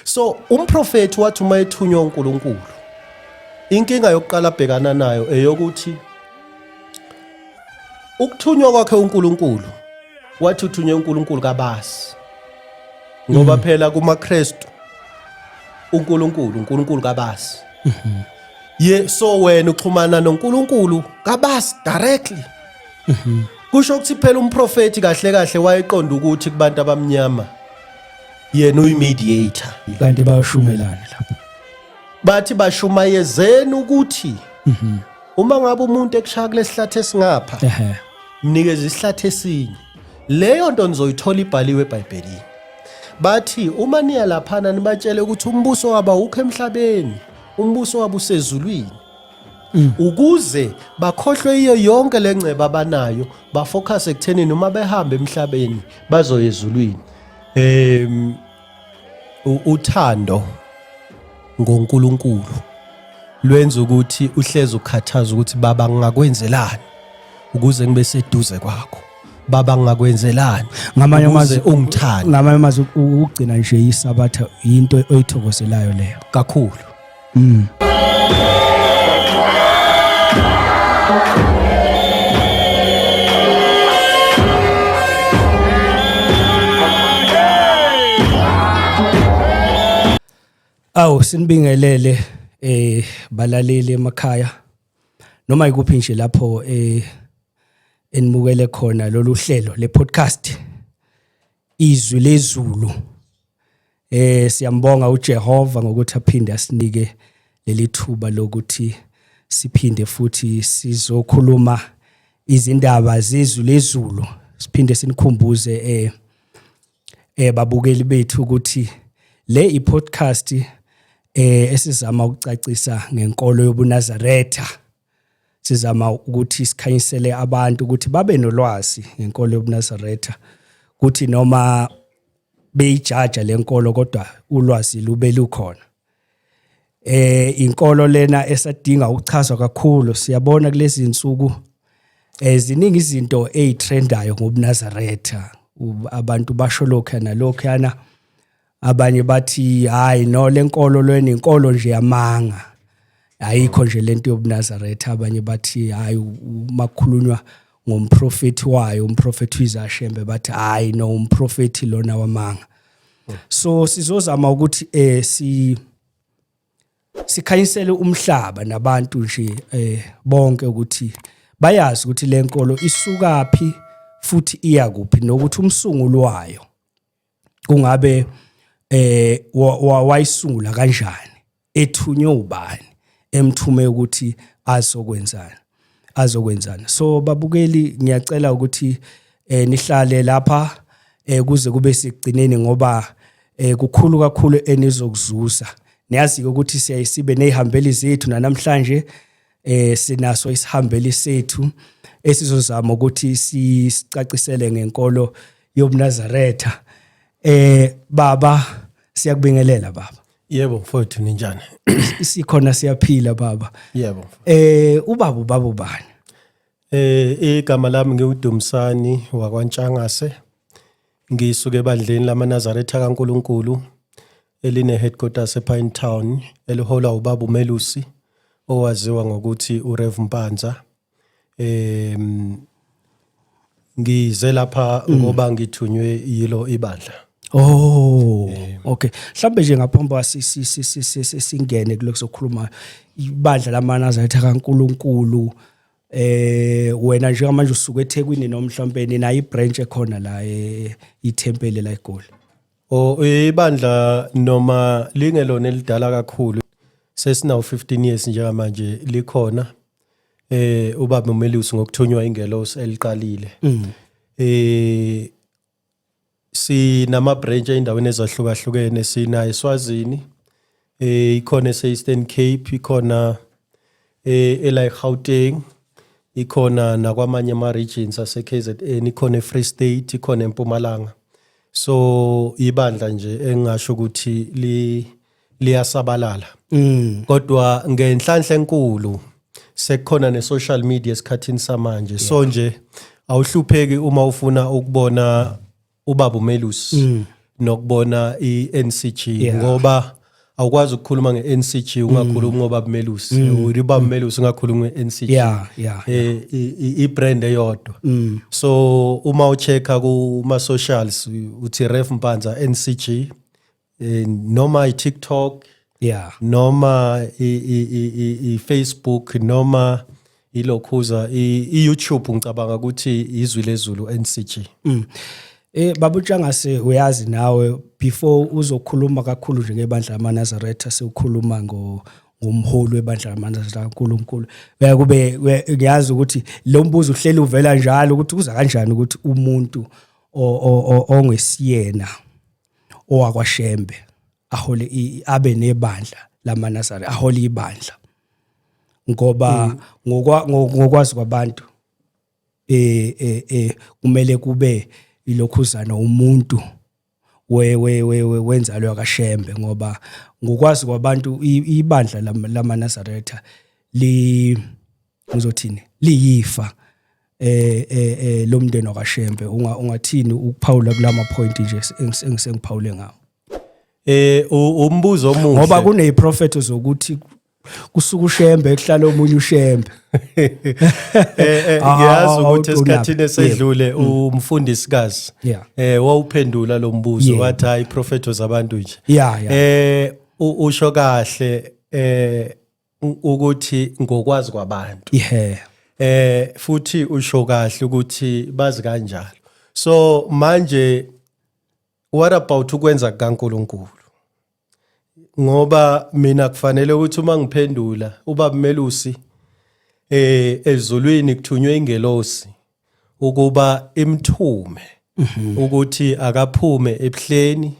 so umprofethi wathi uma ethunywa uNkulunkulu inkinga yokuqala abhekana nayo eyokuthi ukuthunywa kwakhe uNkulunkulu wathi uthunywe uNkulunkulu kabasi ngoba mm. phela kumaKristu uNkulunkulu uNkulunkulu kabasi mm-hmm. ye so wena uxhumana noNkulunkulu kabasi directly mm-hmm. kusho ukuthi phela umprofeti kahle kahle wayeqonda ukuthi kubantu abamnyama yena uyimediator kanti bayashumelana lapha bathi bashumayezeni ukuthi mhm. uma ngabe umuntu ekushaya kulesihlathi esingapha mnikeza isihlathi esinye leyo nto nizoyithola ibhaliwe eBhayibhelini bathi uma niya laphana nibatshele ukuthi umbuso waba ukho emhlabeni umbuso waba usezulwini mm. ukuze bakhohlwe iyo yonke lengceba abanayo bafocus ekutheni noma behamba emhlabeni bazoyezulwini Em u- uthando ngoNkulunkulu lwenza ukuthi uhleze ukhathaza ukuthi baba ngingakwenzelani ukuze ngibe seduze kwakho. Baba ngingakwenzelani ngamanye ukuze amazwi ungithande ngamanye amazwi ukugcina nje isabatha into oyithokozelayo leyo kakhulu. Mm. Awu sinibingelele eh balaleli emakhaya noma ikuphi nje lapho eh enibukele khona lolu hlelo le podcast izwi lezulu Eh siyambonga uJehova ngokuthi aphinde asinike leli thuba lokuthi siphinde futhi sizokhuluma izindaba zezulu lezulu siphinde sinikhumbuze eh eh babukeli bethu ukuthi le i-podcast eh esizama ukucacisa ngenkolo yobuNazaretha sizama ukuthi sikhanyisele abantu ukuthi babe nolwazi ngenkolo yobunazaretha kuthi noma beyijaja lenkolo kodwa ulwazi lube lukhona eh inkolo lena esadinga ukuchazwa kakhulu siyabona kulezi insuku eziningi eh, izinto ezitrendayo ngobunazaretha abantu basho lokho nalokho yana abanye bathi hayi no lenkolo lweni inkolo nje yamanga ayikho nje lento yobunazaretha abanye bathi hayi makukhulunywa ngomprofeti wayo umprofeti uyizashembe bathi hayi no umprofeti lona wamanga so sizozama ukuthi eh si sikhanyisele umhlaba nabantu nje eh bonke ukuthi bayazi ukuthi lenkolo isukaphi futhi iya kuphi nokuthi umsunguli wayo kungabe eh wayisungula kanjani ethunywe ubani emthume ukuthi azokwenzana azokwenzana so babukeli ngiyacela ukuthi eh nihlale lapha eh kuze kube sigcineni ngoba eh kukhulu kakhulu enizokuzuza niyazi ukuthi siyayisibe nezihambeli zethu namhlanje eh sinaso isihambeli sethu esizozama ukuthi sicacisele ngenkolo yobunazaretha eh baba siyakubingelela baba yebo mfowethu ninjani sikhona siyaphila baba yebo eh ubaba ubaba ubani eh igama lami ngiwuDumsani wakwaNtshangase Ngisuke ebandleni lamaNazaretha kaNkulunkulu elineheadquarters ePine Town eliholwa ubaba uMelusi owaziwa ngokuthi uRev Mpanza. Em ngize lapha ngoba ngithunywe yilo ibandla. Oh, okay. Mhlambe nje ngaphambi kwa si- si- si- si- si- si- singene kulokuzokhuluma ibandla lamaNazaretha kaNkuluNkulu eh wena njengamanje usuke eThekwini noma mhlawumbe nina ibranch ekhona la eh, ithempeli la eGoli o ibandla noma lingelona elidala kakhulu sesinawo 15 years njengamanje likhona eh ubaba uMelusi ngokuthunywa ingelosi eliqalile mm. eh Sinama-branch ey'ndaweni ezahlukahlukene, sina eSwazini, eh, ikhona ese-Eastern Cape, ikhona eh, ela eGauteng, ikhona nakwamanye ama-regions ase-KZN, ikhona eFree State, ikhona eMpumalanga. So ibandla nje engingasho ukuthi li liyasabalala mm. kodwa ngenhlanhla enkulu sekukhona ne social media esikhathini samanje yeah. so nje awuhlupheki uma ufuna ukubona ubaba uMelus mm. nokubona iNCG yeah. ngoba awukwazi ukukhuluma ngeNCG mm. ungakhulumi ngoba uMelus mm. uba uMelus mm. ungakhulumi ngeNCG yeah yeah eh, ibrand eyodwa mm. so uma uchecka kuma socials uthi ref mpanza NCG eh, noma i-tiktok yeah noma i-facebook noma ilokhuza i-youtube ngicabanga ukuthi izwi lezulu ncg mm. Eh babu Tshangase uyazi nawe before uzokhuluma kakhulu nje ngebandla lamaNazaretha sewukhuluma ngo ngomholi webandla lamaNazaretha uNkulunkulu baya kube ngiyazi ukuthi lo mbuzo uhleli uvela njalo ukuthi kuza kanjani ukuthi umuntu ongesiyena owakwashembe ahole abe nebandla lamanasari ahole ibandla ngoba mm. ngokwazi kwabantu eh eh, eh kumele kube ilokhuzana umuntu we we we wenzalo yakashembe ngoba ngokwazi kwabantu ibandla lamaNazaretha li ngizothini liyifa eh eh, eh lomndeni wakashembe unga ungathini ukuphawula kulama point nje engisengiphawule ngawo eh umbuzo omuhle ngoba kune prophet zokuthi kusuka ushembe ekuhlala omunye ushembe eh, eh, ah, ngiyazi ukuthi esikhathini esedlule mm. umfundisikazi eh wawuphendula lo mbuzo wathi hayi prophet zabantu nje eh usho kahle eh ukuthi ngokwazi kwabantu yeah eh futhi usho kahle ukuthi bazi kanjalo so manje what about ukwenza kaNkuluNkulu ngoba mina kufanele ukuthi uma ngiphendula uba melusi eh ezulwini kuthunywe ingelosi ukuba imthume mhm. ukuthi akaphume ebuhleni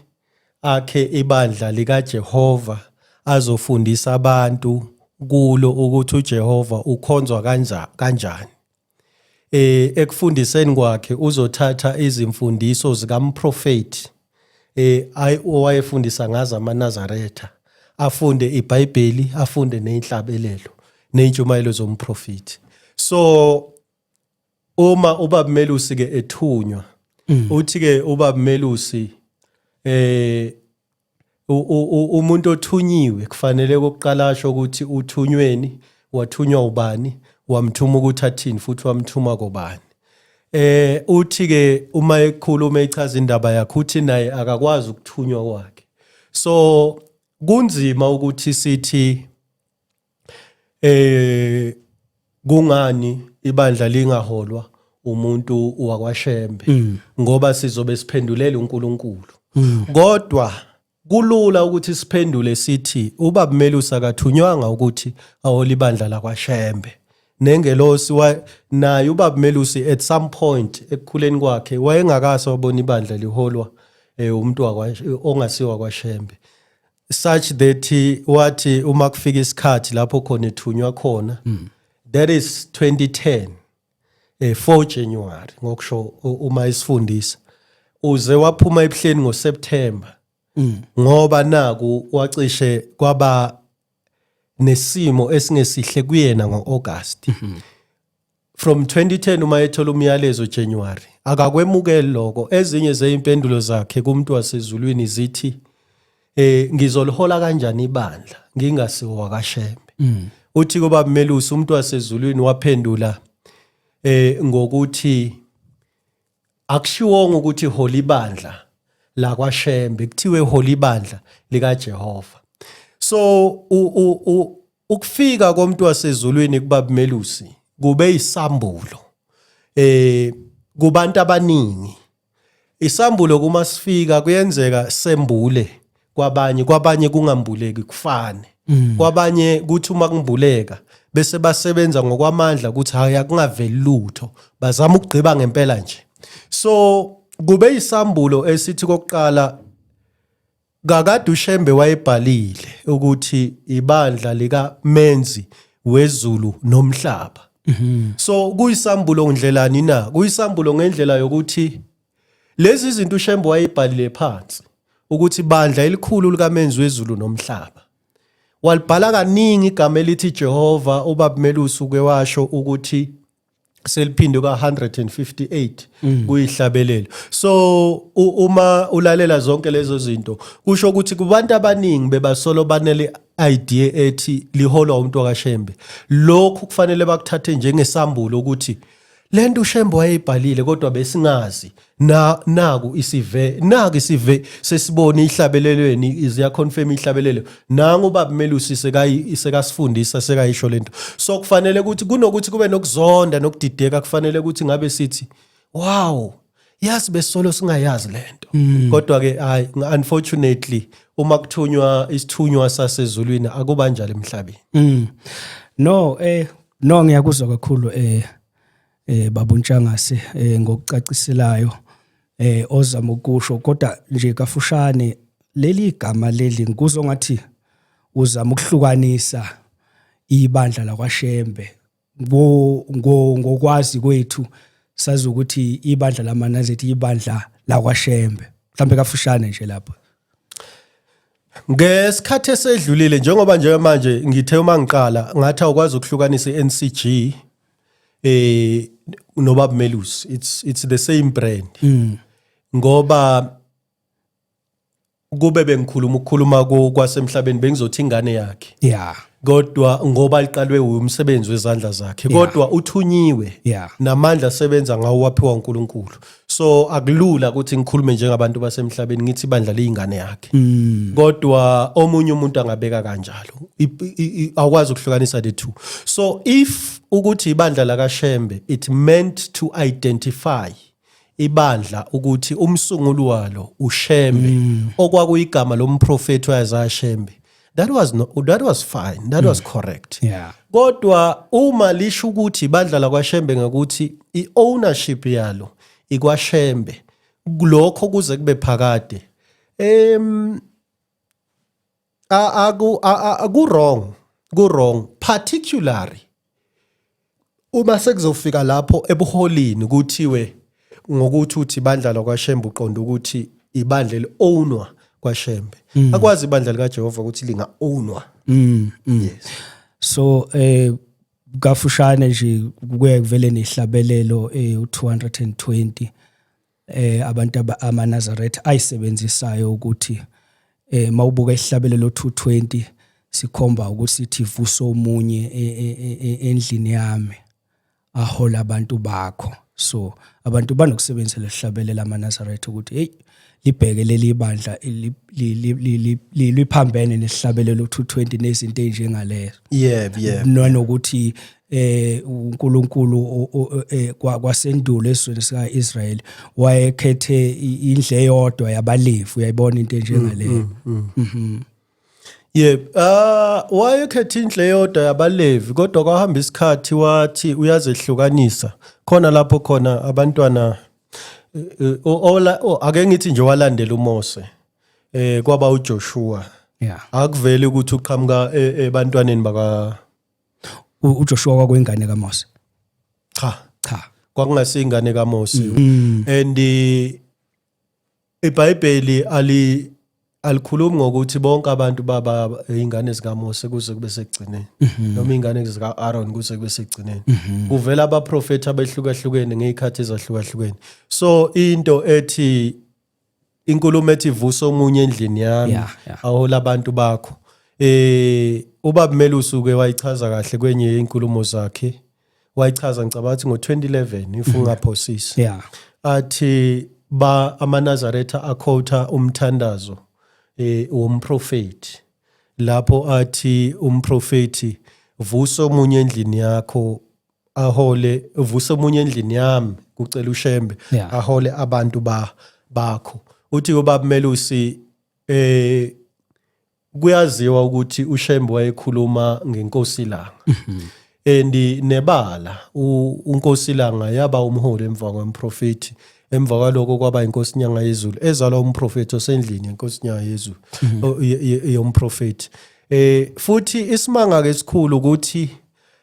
akhe ibandla likaJehova azofundisa abantu kulo ukuthi uJehova ukhonzwa kanja kanjani eh ekufundiseni kwakhe uzothatha izimfundiso zikamprofeti eh ayi owayefundisa ngazo amaNazaretha afunde iBhayibheli afunde nezinhlabelelo nezintshumayelo zomprofeti so uma ubaba Melusi ke ethunywa mm. uthi ke ubaba Melusi eh umuntu othunyiwe kufanele kokuqala asho ukuthi uthunyweni wathunywa ubani wamthuma ukuthi athini futhi wamthuma kobani eh uthi ke uma ekhuluma echaza indaba yakhe uthi naye akakwazi ukuthunywa kwakhe so kunzima ukuthi sithi eh kungani ibandla lingaholwa umuntu wakwaShembe mm. ngoba sizobe siphendulela uNkulunkulu mm. kodwa kulula ukuthi siphendule sithi ubaba Melusi akathunywanga ukuthi ahole ibandla lakwaShembe nengelosi naye ubaba Melusi at some point ekukhuleni kwakhe wayengakase wabona ibandla liholwa eh, umuntu ongasiwa kwaShembe such that wathi uma kufika isikhathi lapho khona ethunywa khona mm. that is 2010 eh 4 January ngokusho uma isifundisa uze waphuma ebuhleni ngoSeptember mm. ngoba naku wacishe kwaba nesimo esingesihle kuyena ngoAugust mm -hmm. From 2010 uma ethola umyalezo January akakwemukeli lokho ezinye zeimpendulo zakhe kumuntu wasezulwini zithi eh ngizolihola kanjani ibandla ngingasiwo wakashembe mm. uthi kuba melusi umuntu wasezulwini waphendula eh ngokuthi akushiwongo ukuthi holy bandla lakwaShembe kuthiwe holy bandla likaJehova so ukufika komuntu wasezulwini kubabumelusi kube isambulo eh kubantu abaningi isambulo kuma sifika kuyenzeka sembule kwabanye kwabanye kungambuleki kufane mm. kwabanye kuthi uma kumbuleka bese basebenza ngokwamandla ukuthi hayi akungaveli lutho bazama ukugqiba ngempela nje so kube isambulo esithi kokuqala kakade ushembe wayebhalile ukuthi ibandla lika menzi wezulu nomhlaba mhm. so kuyisambulo ndlelani na kuyisambulo ngendlela yokuthi Lezi zinto uShembe wayebhalile phansi ukuthi bandla elikhulu likamenzi wezulu nomhlaba. Walibhala kaningi igama elithi Jehova ubabumelusi uke washo ukuthi seliphinde kwa 158 mm. kuyihlabelelo so uma ulalela zonke lezo zinto kusho ukuthi kubantu abaningi bebasolo banele idea ethi liholwa umuntu wakashembe lokhu kufanele bakuthathe njengesambulo ukuthi le nto ushembe wayeyibhalile kodwa besingazi na naku isive naku isive sesibone ihlabelelweni iziya confirm ihlabelelo nangu ubaba Melusi sekayi sekasifundisa sekayisho lento so kufanele ukuthi kunokuthi kube nokuzonda nokudideka kufanele ukuthi ngabe sithi wow yazi besolo singayazi lento mm. kodwa ke hayi unfortunately uma kuthunywa isithunywa sasezulwini akuba njalo emhlabeni mm. no eh no ngiyakuzwa kakhulu eh eh babuntshangase eh ngokucaciselayo eh ozama ukusho kodwa nje kafushane leli igama leli ngikuzwa ngathi uzama ukuhlukanisa ibandla lakwaShembe ngo ngo ngokwazi kwethu sazi ukuthi ibandla lamanazethi ibandla lakwashembe mhlambe kafushane nje lapha ngesikhathi esedlulile njengoba nje manje ngithe uma ngiqala ngathi awukwazi ukuhlukanisa iNCG eh nobab Melus it's it's the same brand mm. ngoba kube bengikhuluma ukukhuluma kwasemhlabeni bengizothi ingane yakhe yeah kodwa ngoba liqalwe umsebenzi wezandla zakhe kodwa uthunyiwe yeah. namandla asebenza ngawo waphiwa uNkulunkulu so akulula ukuthi ngikhulume njengabantu basemhlabeni ngithi bandla leyingane yakhe mm. kodwa omunye umuntu angabeka kanjalo awukwazi ukuhlukanisa the two so if ukuthi ibandla lakaShembe it meant to identify ibandla ukuthi umsunguli walo uShembe mm. okwakuyigama lomprofeti wayeZaya Shembe that was no, that was fine that mm. was correct yeah kodwa uma lisho ukuthi badlala kwaShembe ngokuthi iownership yalo ikwaShembe lokho kuze kube phakade em A- aku a- a- aku-wrong ku-wrong particularly uma sekuzofika lapho ebuholini kuthiwe ngokuthi uthi ibandla lakwashembe uqonda ukuthi ibandla eli-ownwa kwashembe akwazi ibandla likajehova ukuthi linga-ownwa Mm, mm. so eh kafushane nje kuye kuvele nehlabelelo eh u220 eh abantu amaNazaretha ayisebenzisayo ukuthi eh mawubuka isihlabelo lo 220 sikhomba ukuthi ithi vusa omunye e, e, e, endlini yami ahola abantu bakho so abantu banokusebenzisa lesihlabelo lamaNazaretha ukuthi hey libheke leli bandla liphambene nesihlabelo lo 220 nezinto ezinjengalezo yebo yebo nanokuthi eh uNkulunkulu eh, kwasendulo esizweni sikaIsrael wayekhethe indle eyodwa yabalevi uyayibona into enjengaleyo mm, mm, mm. mhm Yep. Ah wayekhetha indle yodwa yabalevi kodwa kwahamba isikhathi wathi uyazehlukanisa. Khona lapho khona abantwana eh, eh, ola ake ngithi nje walandela uMose. Eh kwaba uJoshua. Yeah. Akuveli ukuthi uqhamuka ebantwaneni baka U- uJoshua kwakuyingane kaMose cha cha kwakungasiyingane kaMose Mm. and eh, iBhayibheli ali alikhulumi ngokuthi bonke abantu baba ingane zikaMose kuze kube sekugcineni Mhm. noma ingane zika Aaron kuze kube sekugcineni kuvela abaprofeti abehlukahlukene ngezikhathi ezahlukahlukene so into ethi inkulumo ethi vusa omunye endlini yami yeah, yeah. ahola abantu bakho eh ubaba Melu usuke wayichaza kahle kwenye inkulumo zakhe wayichaza ngicabanga ukuthi ngo-2011 if mhm. ungaphosisi yeah. athi ba amanazaretha akhotha umthandazo eh womprofeti lapho athi umprofeti vusa omunye endlini yakho ahole uvuse omunye endlini yami kucela ushembe yeah. ahole abantu ba bakho uthi ubaba Melusi eh kuyaziwa ukuthi ushembe wayekhuluma ngenkosi langa mm -hmm. and nebala unkosi langa yaba umholi emva kwemprofeti emva kwaloko kwaba inkosi nyanga yezulu ezalwa umprofeti osendlini yenkosi nyanga yezulu mhm. yomprofeti eh futhi isimanga ke sikhulu ukuthi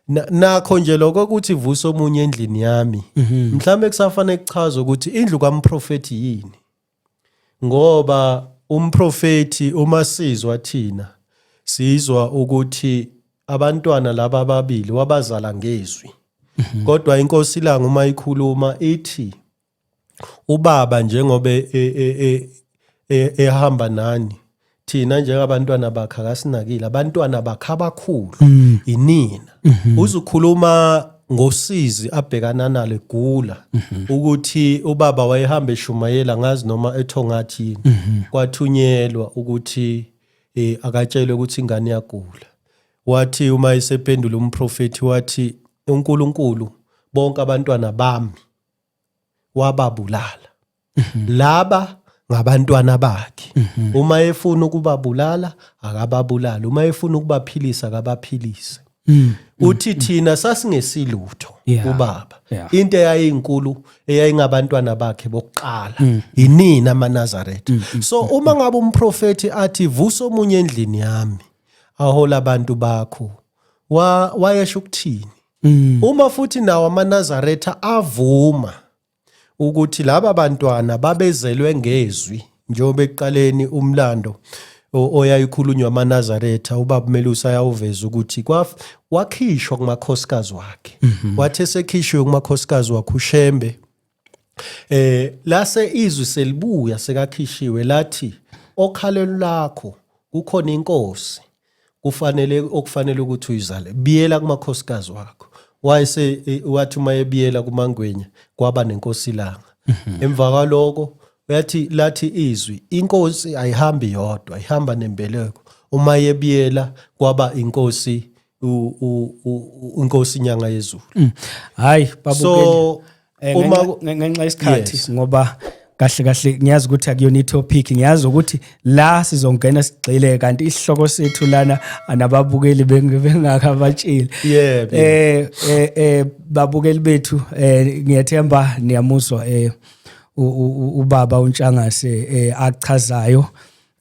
Na- nakho nje lokho ukuthi vusa omunye endlini yami Mhm. mhlawumbe kusafanele kuchaze ukuthi indlu kamprofethi yini ngoba umprofethi uma sizwa thina sizwa ukuthi abantwana laba ababili wabazala ngezwi Mhm. kodwa inkosi ilanga uma ikhuluma ithi ubaba njengoba e, e, e, ehamba nani thina njengabantwana bakhe akasinakile abantwana bakhe abakhulu mm. inina mm-hmm. uzukhuluma ngosizi abhekana nalo egula mm-hmm. ukuthi ubaba wayehamba eshumayela ngazi noma ethongathi yini mm-hmm. kwathunyelwa ukuthi eh akatshelwe ukuthi ingane yagula wathi uma isephendula umprofeti wathi uNkulunkulu bonke abantwana bami wababulala mhm. laba ngabantwana bakhe mhm. uma efuna ukubabulala akababulali uma efuna ukubaphilisa akabaphilise mm. uthi mm. thina sasingesilutho ubaba into eyayinkulu eyayingabantwana bakhe bokuqala mm. yinini amanazaretha so uma ngabe umprofethi athi vusa omunye endlini yami ahola abantu bakho wayesho ukuthini Mm. Uma futhi nawo amaNazaretha avuma ukuthi laba bantwana babezelwe ngezwi njengoba ekuqaleni umlando oyayikhulunywa amaNazaretha ubaba Melusi ayawuveza ukuthi kwaf wakhishwa kumakhosikazi wakhe mm-hmm. wathi esekhishwe kumakhosikazi wakhe uShembe Eh lase izwi selibuya sekakhishiwe lathi okhalelo lakho kukhona inkosi kufanele okufanele ukuthi uyizale biyela kumakhosikazi wakho wayese e, wathi uma ebiyela kumangwenya kwaba nenkosi ilanga mhm. emva kwaloko uyathi lathi izwi inkosi ayihambi yodwa ihamba nembeleko uma yebiyela kwaba inkosi unkosi inyanga yezulu mm. hayi so eh, uma ngenxa isikhathi ngoba kahle kahle ngiyazi ukuthi akuyona itopic ngiyazi ukuthi la sizongena sigxile kanti isihloko sethu lana anababukeli bengakabatshile yebo eh, eh eh babukeli bethu eh ngiyethemba niyamuzwa eh ubaba uNtshangase eh achazayo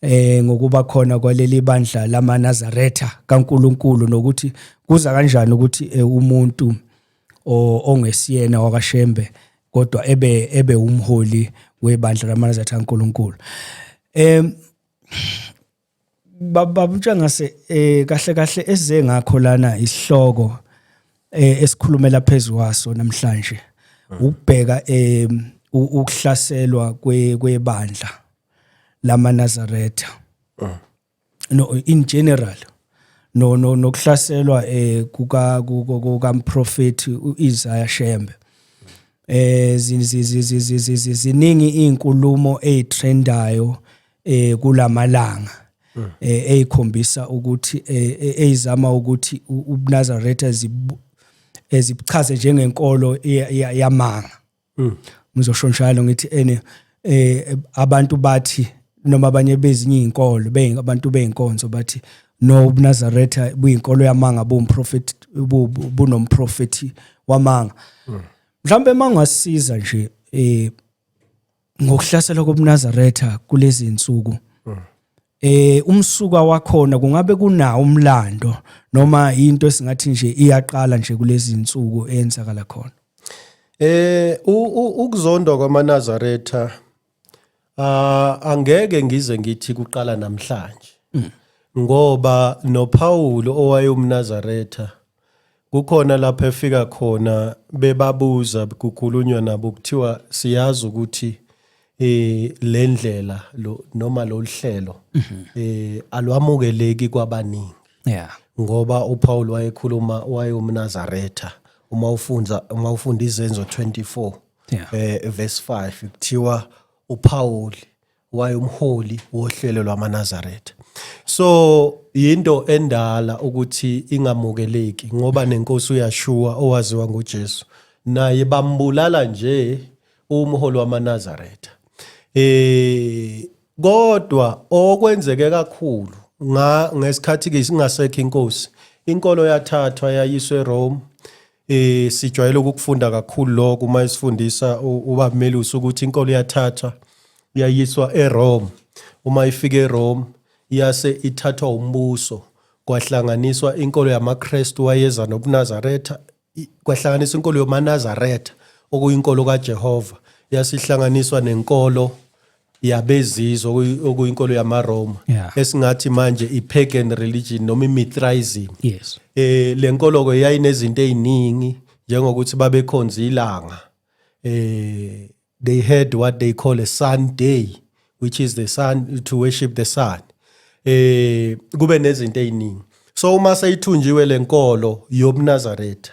eh ngokuba khona kwaleli bandla lamaNazaretha kaNkuluNkulu nokuthi kuza kanjani ukuthi eh, umuntu ongesiyena wakashembe kodwa ebe ebe umholi webandla lamaNazaretha kaNkuluNkulu em babamtsha ngase eh kahle kahle esize ngakho lana isihloko eh esikhulumela phezulu waso namhlanje ukubheka eh ukuhlaselwa kwebandla lamaNazaretha mm. no in general no no nokuhlaselwa eh kuka kukamprofeti uIsaiah Shembe eh ziningi izinkulumo ezitrendayo eh kulamalanga mm. eh ezikhombisa ukuthi eh, eh, ezizama ukuthi uNazaretha ezibuchaze njengenkolo yamanga mm. ngizosho njalo ngithi ene eh abantu bathi noma abanye bezinye izinkolo bezinye abantu bezinkonzo bathi no ubunazaretha buyinkolo yamanga buwumprofethi bunomprofethi wamanga mm. mhlawumbe mangasiza nje eh ngokuhlasela kobunazaretha kulezi insuku eh umsuka wakhona kungabe kunawo umlando noma into esingathi nje iyaqala nje kulezi insuku eyenzakala khona eh ukuzondwa kwamanazaretha ah angeke ngize ngithi kuqala namhlanje mm. ngoba noPaul owayewumnazaretha Kukhona lapho efika khona bebabuza kukhulunywa nabo kuthiwa siyazi ukuthi eh lendlela lo noma loluhlelo mhm. eh alwamukeleki kwabaningi yeah ngoba uPaul wayekhuluma wayomnazaretha uma ufunza uma ufunda izenzo 24 yeah. eh verse 5 kuthiwa uPaul wayumholi wohlelo lwamaNazaretha so yinto endala ukuthi ingamukeleki ngoba nenkosi uyashuwa owaziwa nguJesu naye bambulala nje umholi wamaNazaretha eh kodwa okwenzeke kakhulu nga ngesikhathi ke singasekho inkosi inkolo yathathwa yayiswe Rome eh sijwayele ukufunda kakhulu lokho uma isifundisa uba Melusi ukuthi inkolo yathathwa yayiswa eRome uma ifika eRome yase ithathwa umbuso kwahlanganiswa inkolo yamaKristu wayeza nobuNazaretha kwahlanganisa inkolo yomaNazaretha okuyinkolo kaJehova yasihlanganiswa nenkolo yabezizwe okuyi- okuyinkolo yamaRoma Yeah. esingathi manje i-pagan religion noma i-Mithraism yes eh lenkolo ke yayinezinto eziningi njengokuthi babekhonza ilanga eh they had what they call a sun day which is the sun to worship the sun eh kube nezinto eziningi so uma seyithunjiwe lenkolo yobnazaretha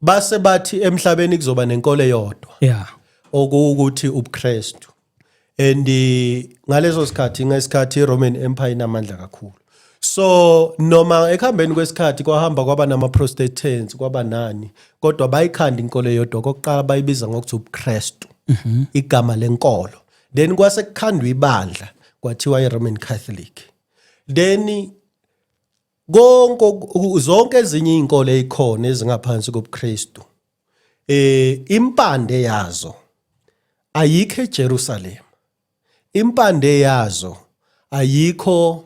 base bathi emhlabeni kuzoba nenkolo eyodwa yeah okuwukuthi ubuKristu and eh, ngaleso sikhathi ngesikhathi iRoman Empire inamandla kakhulu so noma ekuhambeni kwesikhathi kwahamba kwaba namaprotestants kwaba nani kodwa bayikhanda inkolo eyodwa kokuqala bayibiza ngokuthi ubuKristu mhm. igama lenkolo then kwase kukhandwa ibandla kwathiwa iRoman Catholic then konke zonke ezinye izinkolo ezikhona ezingaphansi kobuKristu eh impande yazo ayikho eJerusalem impande yazo ayikho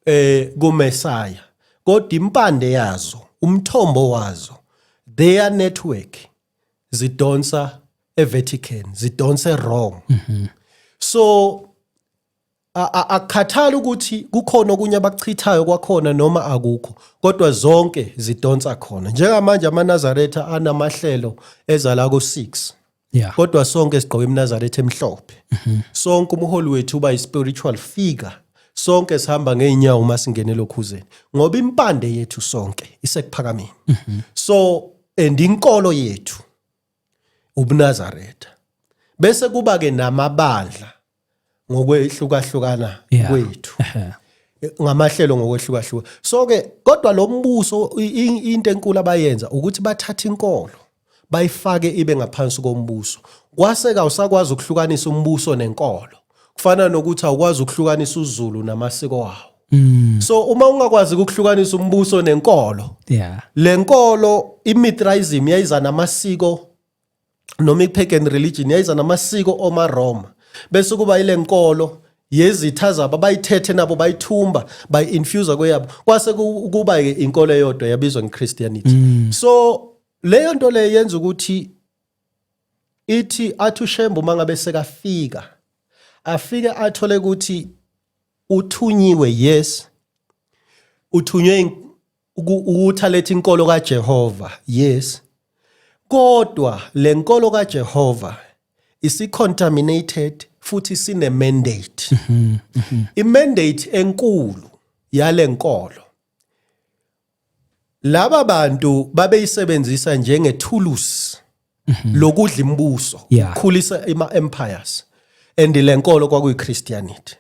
eh kuMessiah kodwa impande yazo umthombo wazo their network zidonsa eVatican zidonse wrong mm -hmm. so akukhathali ukuthi kukhona okunye abakuchithayo kwakhona noma akukho kodwa zonke zidonsa khona njengamanje amanazaretha anamahlelo eza la ku-6 yeah. kodwa sonke sigqoke imnazaretha emhlophe mm -hmm. sonke umholi wethu uba i-spiritual figure sonke sihamba ngeenyawo uma singene lokhuzeni ngoba impande yethu sonke isekuphakameni mm -hmm. so and inkolo yethu ubunazaretha bese kuba-ke namabandla ngokwehlukahlukana Yeah. kwethu Ehhe. ngamahlelo ngokwehlukahluka so ke kodwa lo mbuso i- i- into enkulu abayenza ukuthi bathatha inkolo bayifake ibe ngaphansi kombuso kwase kawusakwazi ukuhlukanisa umbuso nenkolo kufana nokuthi awukwazi ukuhlukanisa uzulu namasiko wawo Mm. so uma ungakwazi ukuhlukanisa umbuso nenkolo Yeah. lenkolo imithraism yayiza namasiko noma i-pagan religion yayiza namasiko omaroma bese kuba ile nkolo yezitha zabo bayithethe nabo bayithumba bayi-infusa kweyabo kwase kuba-ke inkolo eyodwa yabizwa nge-christianity mm. so leyo nto leyo yenza ukuthi ithi athi ushembe uma ngabe sekafika afike athole ukuthi uthunyiwe yes uthunywe ukutha lethi inkolo kaJehova yes kodwa lenkolo kaJehova isicontaminated futhi sine mandate mhm, mhm. i mandate enkulu yalenkolo laba bantu babeyisebenzisa njengethulusi mhm. lokudla imibuso yeah. ukukhulisa ima empires and lenkolo kwakuyi Christianity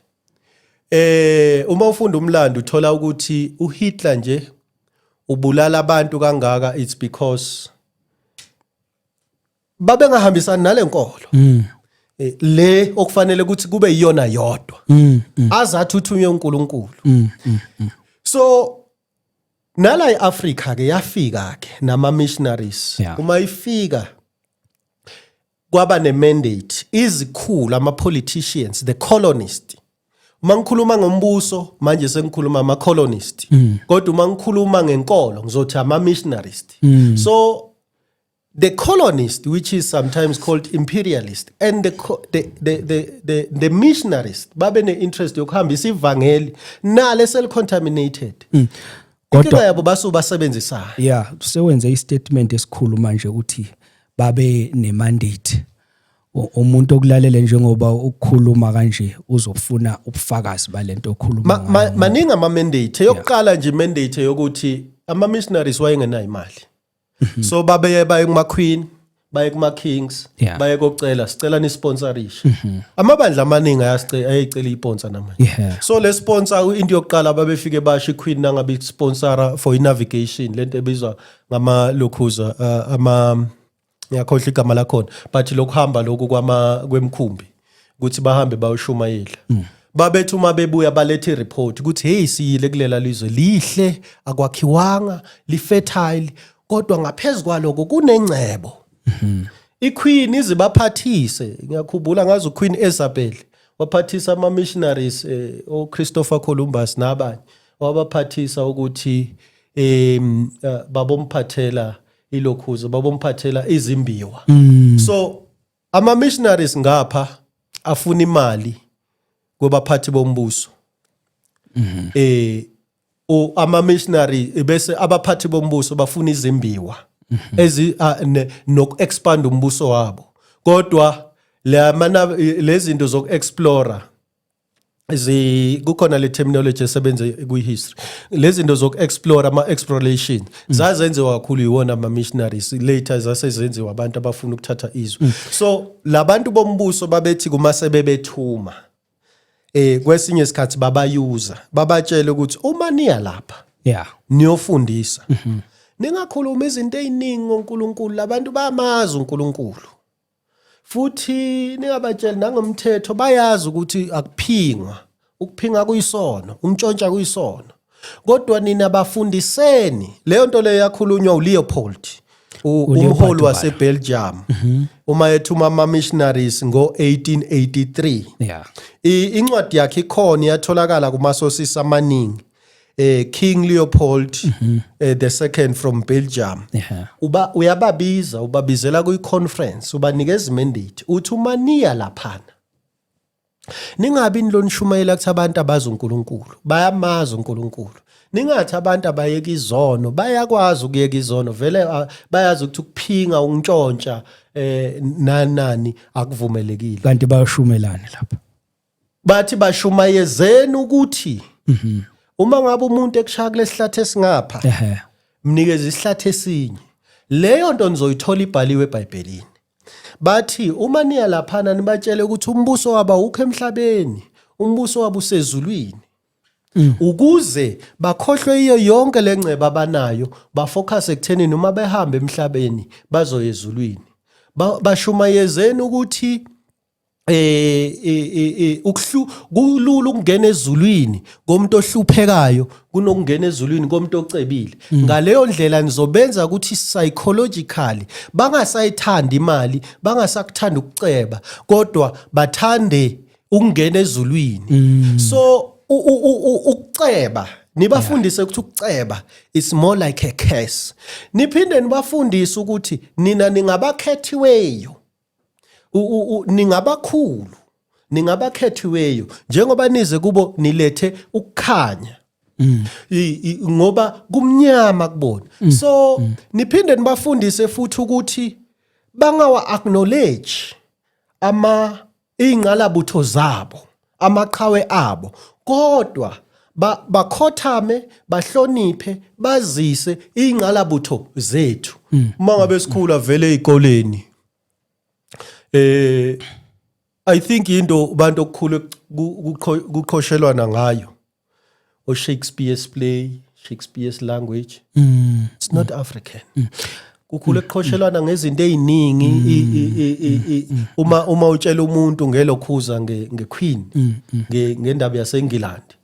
eh uma ufunda umlando uthola ukuthi uHitler nje ubulala abantu kangaka it's because babengahambisani nalenkolo mm. Eh, le okufanele ukuthi kube iyona yodwa mm, mm. azathi uthunywe uNkulunkulu mm, mm, mm. so nala eAfrica ke yafika ke nama missionaries yeah. uma ifika kwaba ne mandate izikhulu ama politicians the colonist uma ngikhuluma ngombuso manje sengikhuluma ama colonist mm. kodwa uma ngikhuluma ngenkolo ngizothi ama missionaries mm. so the colonist, which is sometimes called imperialist, and the, the, the, the, the, the missionarist, babe ne-interest yokuhambisa ivangeli nalo eselicontaminated mm. kodwa yabo basu basebenzisana yeah sewenze istatement esikhulu manje ukuthi babe nemandate umuntu okulalele njengoba ukukhuluma kanje uzofuna ubufakazi balento okhuluma maningi ama mandate eyokuqala nje mandate yokuthi ama missionaries wayengenayo imali mhm. so babeye baye kuma queen baye kuma kings yeah. baye kocela sicela ni sponsorisha mm -hmm. amabandla amaningi ayasicela ayicela iponsa namanje yeah. so le sponsor into yokuqala babefike basho iqueen nangabe sponsora for navigation lento ebizwa ngama lokhuza uh, ama ngiyakhohlwa igama lakhona but lokuhamba lokhu kwama kwemkhumbi ukuthi bahambe bayoshumayela mm. babethi uma bebuya balethe ireport ukuthi hey siyile kulela lizwe lihle akwakhiwanga lifetile kodwa ngaphezulu kwaloko kunengcebo mm-hmm. iqueen izibaphathise ngiyakhumbula ngazi uqueen Isabel waphathisa ama missionaries eh, o Christopher Columbus nabanye wabaphathisa ukuthi em eh, babomphathela ilokhuza babomphathela izimbiwa mm. so Ama missionaries ngapha afuna imali kwabaphathi bombuso. Mhm. Eh o ama missionary bese abaphathi bombuso bafuna izimbiwa mhm. ezi nok expand umbuso wabo. Kodwa lezi zinto zoku explore zi kukhona le terminology esebenza kwi-history lezi zinto zoku-explore ama-exploration mm. zazenziwa kakhulu yiwona ama-missionaries later zase zenziwa abantu abafuna ukuthatha izwe mm. so labantu bombuso babethi kuma sebebethuma eh kwesinye isikhathi babayuza babatshele ukuthi uma niya lapha yeah niyofundisa mm -hmm. ningakhuluma izinto eziningi ngoNkulunkulu labantu bamazi uNkulunkulu futhi ningabatsheli nangomthetho bayazi ukuthi akuphingwa ukuphinga kuyisono umtshontsha kuyisono kodwa nina bafundiseni leyo nto leyo yakhulunywa uleopold umholi wasebelgium mhm. uma ethuma ama-missionaries ngo-1883 incwadi yakhe ikhona iyatholakala kumasosisi amaningi eh King Leopold mm -hmm. eh, the second from Belgium yeah. uba uyababiza ubabizela kuyi conference ubanikeza mandate uthi uma niya laphana ningabi nilonishumayela kuthi abantu abazi uNkulunkulu bayamazi uNkulunkulu ningathi abantu abayeka izono bayakwazi ukuyeka izono vele ah, bayazi ukuthi ukuphinga ukuntshontsha eh nanani akuvumelekile kanti bayashumelana lapha bathi bashumayezeni ukuthi mhm. uma ngabe umuntu ekushaya kulesihlathi esingapha mnikeze isihlathi esinye leyo nto nizoyithola ibhaliwe eBhayibhelini bathi uma niya laphana nibatshele ukuthi umbuso waba ukho emhlabeni umbuso waba usezulwini mm. ukuze bakhohlwe iyo yonke le ngceba abanayo bafocus ekuthenini uma behamba emhlabeni bazoyezulwini bashumayezeni ukuthi eh, eh, eh, eh ukuhlu kulula ukungena ezulwini komuntu ohluphekayo kunokungena ezulwini komuntu ocebile mm. ngaleyo ndlela nizobenza ukuthi psychologically bangasayithandi imali bangasakuthanda ukuceba kodwa bathande ukungena ezulwini mm. so ukuceba nibafundise ukuthi ukuceba is more like a curse niphinde nibafundise ukuthi nina ningabakhethiweyo ningabakhulu ningabakhethiweyo njengoba nize kubo nilethe ukukhanya mm. ngoba kumnyama kubona mm. so mm. niphinde nibafundise futhi ukuthi bangawa acknowledge ama ingqalabutho zabo amaqhawe abo kodwa bakhothame bahloniphe bazise ingqalabutho zethu hmm. uma ngabe sikhula vele ezikoleni eh i think into abantu okukhulu kuqhoshelwana ngayo or Shakespeare's play, Shakespeare's language. Mm. It's not mm. African. Mm. kukhule kuqhoshelwana ngezinto eziningi mm. uma uma utshela umuntu ngelokhuza nge nge queen mm, mm. nge ngendaba yaseNgilandi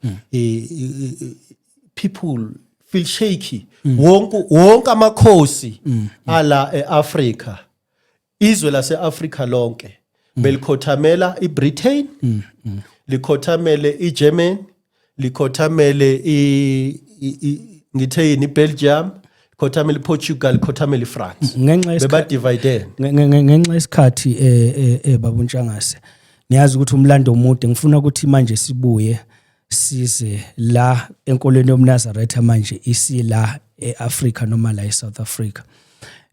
people feel shaky wonke wonke amakhosi ala eAfrica izwe lase-afrika lonke mm. belikhothamela ibritain mm, mm. likhothamele igermany likhothamele ngithe yini ibelgium khothamele iportugal khothamele ifrance bebadividene ngenxa isikhathi um eh, eh, eh, babuntshangase niyazi ukuthi umlando omude ngifuna ukuthi manje sibuye size la enkolweni yomnazaretha manje isila eAfrica noma la eSouth Africa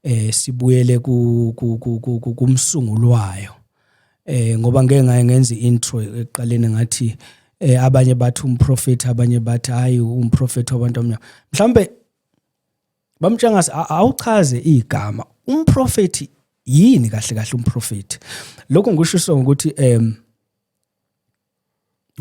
eh sibuyele ku kumsungulu wayo eh ngoba ngeke ngaye ngenza intro eqaleni ngathi eh abanye bathi umprofeti abanye bathi hayi umprofeti wabantu omnyama mhlambe bamtshangase awuchaze igama umprofeti yini kahle kahle umprofeti lokho ngisho ukuthi em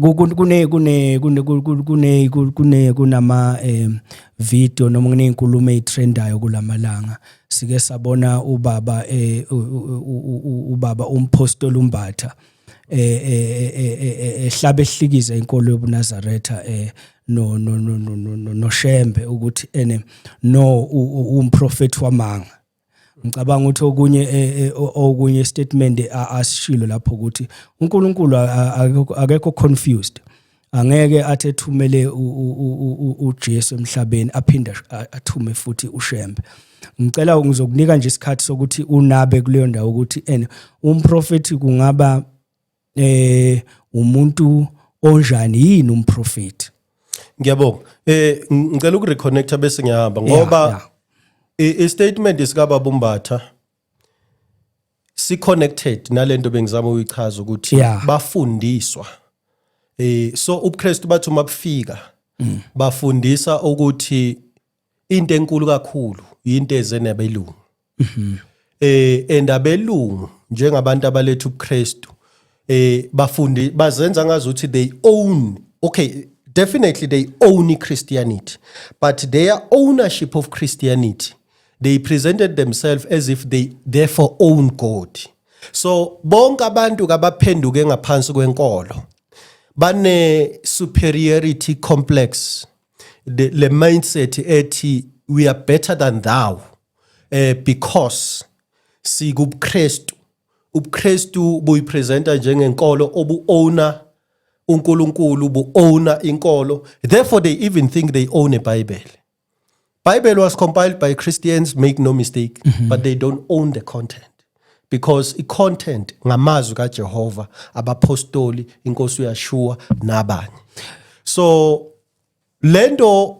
kune kune kune kune kune kunama um video noma kuney'nkulumo ey'threndayo kulamalanga sike sabona ubaba eh, ubaba umphostoli umbatha eh, eh, ehlaba ehlikiza inkolo yobunazaretha eh no no no no noshembe ukuthi ene no umprofethi wamanga ngicabanga ukuthi okunye eh, eh, okunye statement asishilo lapho ukuthi uNkulunkulu akekho confused angeke athi ethumele uJesu emhlabeni aphinde athume futhi uShembe ngicela ngizokunika nje isikhathi sokuthi unabe kuleyo ndawo ukuthi and umprofeti kungaba eh umuntu onjani yini umprofeti ngiyabonga eh ngicela uku reconnecta bese ngiyahamba ngoba yeah, yeah. i statement isikababa umbatha si connected nalento bengizama ukuyichaza ukuthi yeah. bafundiswa eh so ubuKristu bathu mabufika mm. bafundisa ukuthi into enkulu kakhulu yinto eze nabelungu mhm. eh endabelungu njengabantu abaletha ubuKristu eh bafundi bazenza ngazi ukuthi they own okay definitely they own Christianity but their ownership of Christianity they presented themselves as if they therefore own God so bonke abantu kabaphenduke ngaphansi kwenkolo bane superiority complex the, le mindset ethi we are better than thou eh because sikubuKristu ubuKristu buyipresenta njengenkolo obu owner uNkulunkulu bu owner inkolo therefore they even think they own a bible Bible was compiled by Christians, make no mistake, mm -hmm. but they don't own the content. because i-content ngamazwi kaJehova abapostoli inkosi uyashuwa nabanye so lento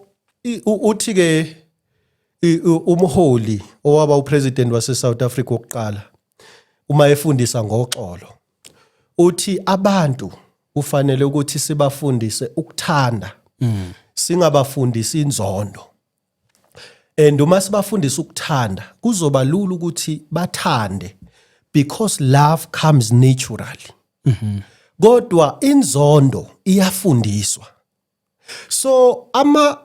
uthi ke umholi owaba upresident waseSouth Africa wokuqala uma efundisa ngoxolo uthi abantu kufanele ukuthi sibafundise ukuthanda mm. singabafundisi inzondo and uma sibafundisa ukuthanda kuzoba lula ukuthi bathande because love comes naturally mm -hmm. kodwa inzondo iyafundiswa so ama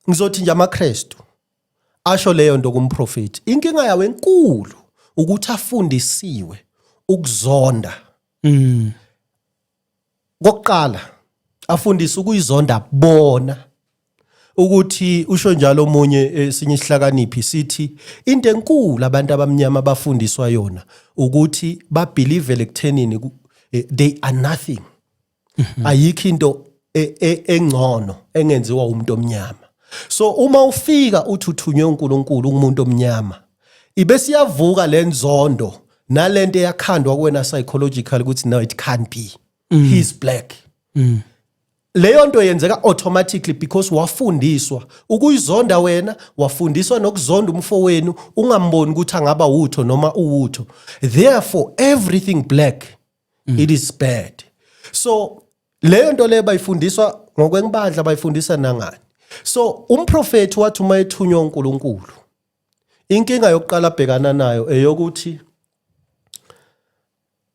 ngizothi nje amaKristu asho leyo nto kumprofeti inkinga yawo enkulu ukuthi afundisiwe ukuzonda mm kokuqala afundisa ukuyizonda bona ukuthi usho njalo omunye esinye isihlakaniphi sithi into enkulu abantu abamnyama abafundiswa yona ukuthi babelieve ekuthenini eh, they are nothing mhm. ayikho into e, e, engcono engenziwa umuntu omnyama so uma ufika uthi uthunywe uNkulunkulu umuntu omnyama ibe siyavuka lenzondo nalento eyakhandwa kuwena psychological ukuthi no it can't be mm. he's black mm. leyo nto yenzeka automatically because wafundiswa ukuyizonda wena wafundiswa nokuzonda umfowenu ungamboni ukuthi angaba wutho noma uwutho therefore everything black mm. it is bad so leyo nto leyo bayifundiswa ngokwenibandla bayifundisa nangani so umprofethi wathi uma ethunywa uNkulunkulu inkinga yokuqala abhekana nayo eyokuthi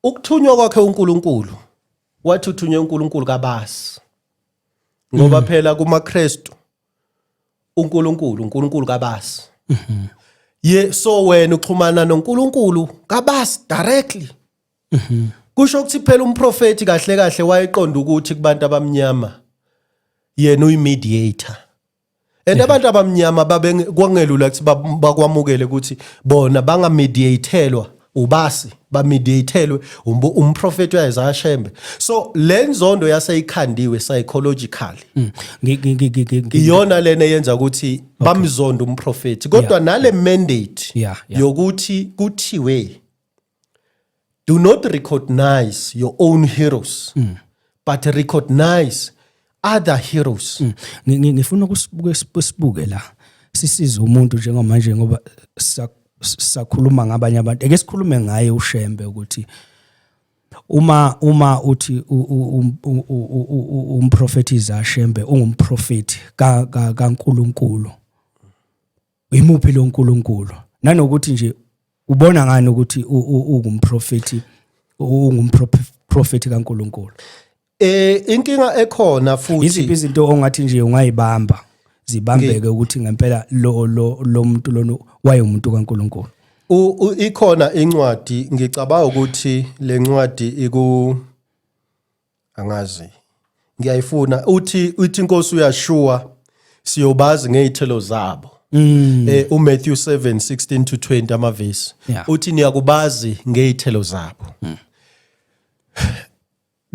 ukuthunywa kwakhe uNkulunkulu wathi uthunywe uNkulunkulu kabasi ngoba mm. phela kumaKristu uNkulunkulu uNkulunkulu kabasi mm-hmm. ye so wena uxhumana noNkulunkulu kabasi directly Mhm. Kusho ukuthi phela umprofeti kahle kahle wayeqonda ukuthi kubantu abamnyama yena uyimediator. And abantu abamnyama babe kwangelula ukuthi bab- bakwamukele ukuthi bona bangamediatelwa ubasi bamediatelwe umbu- umprofeti uyayiza ashembe. So lenzondo yaseyikhandiwe psychologically Mm. Ngi- ngi- ngi- ngi- ngi- iyona lena yenza ukuthi bamzonda umprofeti kodwa nale mandate Yeah, yeah. yokuthi kuthiwe do not recognize your own heroes mm. but recognize other heroes mm. ngifuna ukusibuke sibuke la sisize umuntu njengomanje ngoba sakhuluma ngabanye abantu ake sikhulume ngaye ushembe ukuthi uma uma uthi umprofeti izashembe ungumprofeti kaNkuluNkulu yimuphi lo nkulunkulu nanokuthi nje ubona ngani ukuthi ungumprofethi ungumprofethi kankulunkulu eh inkinga ekhona futhi iziphi izinto ongathi nje ungayibamba zibambeke ukuthi ngempela lo lo muntu lona wayemuntu kaNkuluNkulu ikhona incwadi ngicabanga ukuthi lencwadi iku angazi ngiyayifuna uthi uthi inkosi uyashuwa siyobazi ngezithelo zabo Mm. Eh uMatthew 7:16 to 20 amavesi yeah. uthi niyakubazi ngezithelo zabo. Mm.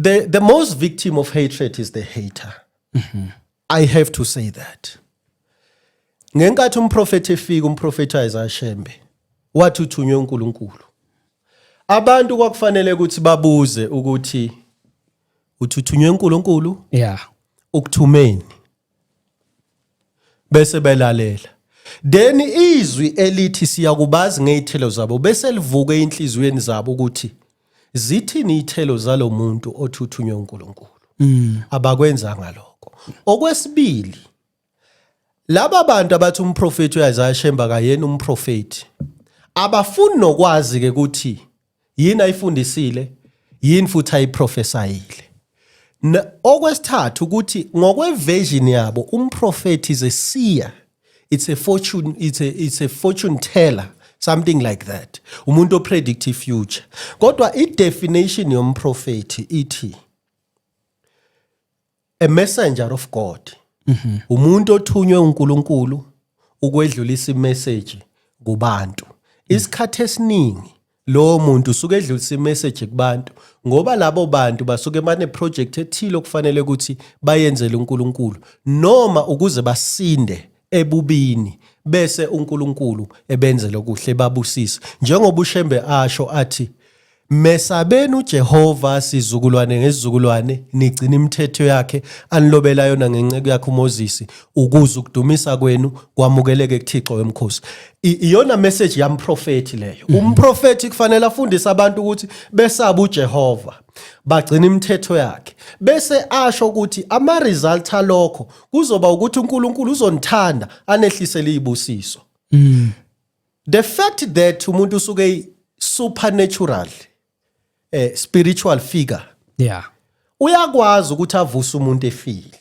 The the most victim of hatred is the hater. Mm -hmm. I have to say that. Ngenkathi umprofeti efika umprofeti Isaiah Shembe wathi uthunywe uNkulunkulu. Abantu kwakufanele ukuthi babuze ukuthi uthuthunywe uNkulunkulu? Yeah. Ukuthumeni. Bese belalela. Then izwi elithi siyakubazi ngezithelo zabo bese livuke enhliziyweni zabo ukuthi zithini ithelo zalomuntu othi uthunywe uNkulunkulu mm. abakwenzanga lokho okwesibili laba bantu abathi umprofeti uIsaiah Shemba kayena umprofeti abafuni nokwazi ke ukuthi yini ayifundisile yini futhi ayiprofesayile okwesithathu ukuthi ngokweversion yabo umprofeti is a seer it's a fortune it's a, it's a fortune teller something like that umuntu opredict ifuture kodwa idefinition yomprofethi ithi a messenger of god mm -hmm. umuntu othunywe uNkulunkulu ukwedlulisa imessage kubantu isikhathi esiningi lowo muntu usuke edlulisa imessage kubantu ngoba labo bantu basuke bane project ethile okufanele ukuthi bayenzele uNkulunkulu noma ukuze basinde ebubini bese uNkulunkulu ebenzele okuhle babusise njengoba uShembe asho athi Mesabeni uJehova sizukulwane ngezizukulwane nigcina imithetho yakhe anilobela yona ngenceku yakhe uMoses ukuze ukudumisa kwenu kwamukeleke kuThixo wemkhosi. iyona message yamprofethi leyo mhm. umprofethi kufanele afundise abantu ukuthi besaba uJehova bagcina imithetho yakhe bese asho ukuthi ama result alokho kuzoba ukuthi uNkulunkulu uzonithanda anehlisele izibusiso mhm. the fact that umuntu usuke supernatural eh spiritual figure yeah uyakwazi ukuthi avuse umuntu efile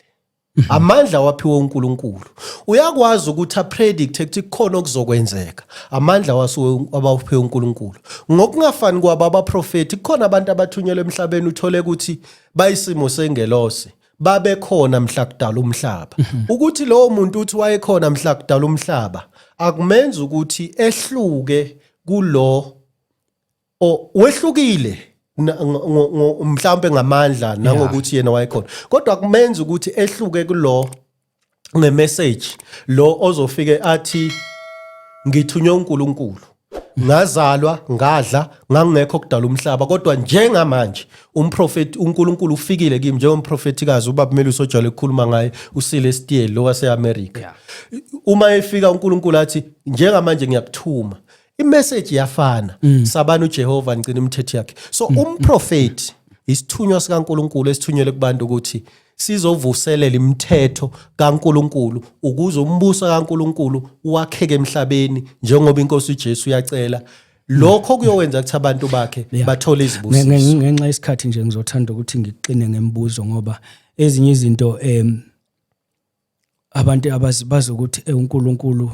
Mhm. amandla waphiwa uNkulunkulu uyakwazi ukuthi apredict ukuthi kukhona okuzokwenzeka amandla wasuke abawuphiwe uNkulunkulu ngokungafani kwabo abaprofeti kukhona abantu abathunyelwe emhlabeni uthole ukuthi bayisimo sengelose babekhona mhla kudala umhlaba mhm. ukuthi lowo muntu uthi wayekhona mhla kudala umhlaba akumenza ukuthi ehluke kulo o wehlukile mhlawumbe ngamandla nangokuthi yena wayekhona kodwa kumenza ukuthi ehluke kulo ngemessage lo ozofike athi ngithunywe uNkulunkulu ngazalwa ngadla ngangekho kudala umhlaba kodwa njengamanje umprofeti uNkulunkulu ufikile kimi njengomprofetikazi ubaba Melusi ojwayele ukukhuluma ngaye usile Stiel lo waseAmerica uma efika uNkulunkulu athi njengamanje ngiyakuthuma imessage yafana mm. sabani uJehova ngicina imithetho yakhe so mm. umprofeti isithunywa sikaNkuluNkulu esithunyelwe kubantu ukuthi sizovuselela imithetho kaNkuluNkulu ukuze umbuso kaNkuluNkulu wakheke emhlabeni njengoba inkosi uJesu yacela lokho kuyowenza ukuthi abantu bakhe bathole izibusiso ngenxa yesikhathi nje ngizothanda ukuthi ngiqine ngemibuzo ngoba ezinye izinto em abantu abazi ukuthi eh, uNkulunkulu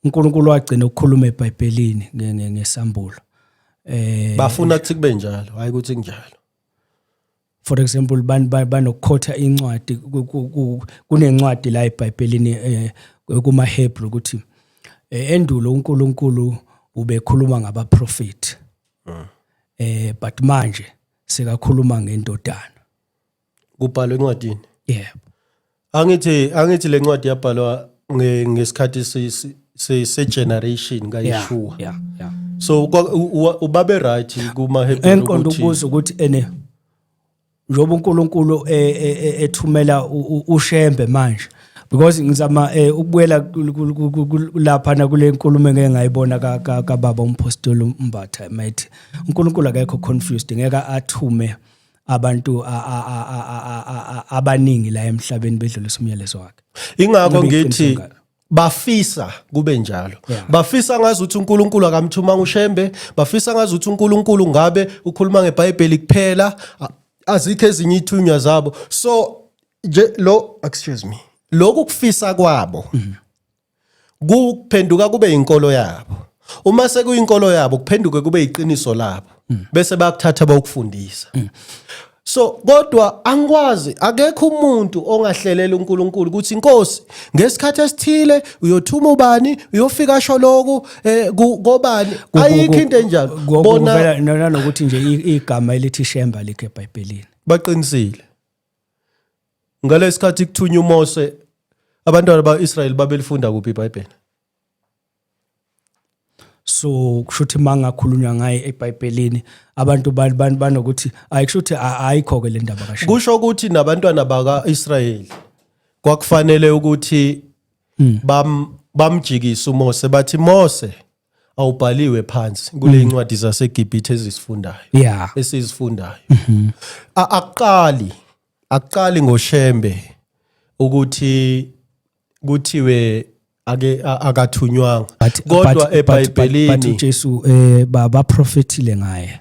uNkulunkulu wagcina ukukhuluma eBhayibhelini ngesambulo eh bafuna ukuthi kube njalo hayi ukuthi kunjalo for example banokukhotha incwadi kunencwadi la eBhayibhelini eh, kumaHebru ukuthi eh, endulo uNkulunkulu ubekhuluma ngabaprofeti ah. eh but manje sekakhuluma ngendodana kubhalwe encwadini yebo angithi angithi le ncwadi yabhalwa nge- ngesikhathi se- se- se- se-generation yeah kayishuwa yeah yeah so kwa- u- u- ubabe right kumahebheru enkonde ukuthi ukubuza ukuthi ene njengoba uNkulunkulu e- e- e- ethumela u- u- uShembe manje because ngizama eh, ukubuyela kul- kul- kul- kul- kul- lapha na kule nkulumo engeke ngayibona ka- ka- kababa umpostoli uMbatha mayithi uNkulunkulu akekho confused ngeke athume abantu abaningi la emhlabeni bedlulisa umyalezo wakhe ingakho ngithi bafisa kube njalo yeah. bafisa ngazi ukuthi uNkulunkulu akamthumanga uShembe bafisa ngazi ukuthi uNkulunkulu ngabe ukhuluma ngeBhayibheli kuphela azikho ezinye ithunywa zabo so nje lo excuse me lokhu kufisa kwabo mm -hmm. kuphenduka kube inkolo yabo uma sekuyinkolo yabo kuphenduke kube iqiniso labo mm. bese bakuthatha bawukufundisa mm. so kodwa angikwazi akekho umuntu ongahlelela uNkulunkulu ukuthi inkosi ngesikhathi esithile uyothuma ubani uyofika asho lokhu eh, kobani ayikho into enjalo bona nalokuthi nje igama elithi shemba likhe eBhayibhelini baqinisile ngalesikhathi kuthunywa uMose abantwana baIsrael babelifunda kuphi iBhayibheli so kushuthi mangakhulunywa ngaye eBhayibhelini abantu banokuthi ayi kushuthi ayikho ke le ndaba kasho kusho ukuthi nabantwana bakaIsrael kwakufanele ukuthi hmm. bam bamjikisa uMose bathi Mose awubhaliwe phansi kule mm. ncwadi zaseGibhithe ezisifundayo yeah esizifundayo mhm. aqali aqali ngoshembe ukuthi kuthiwe ake akathunywanga kodwa eBhayibhelini uJesu eh baba prophetile ngaye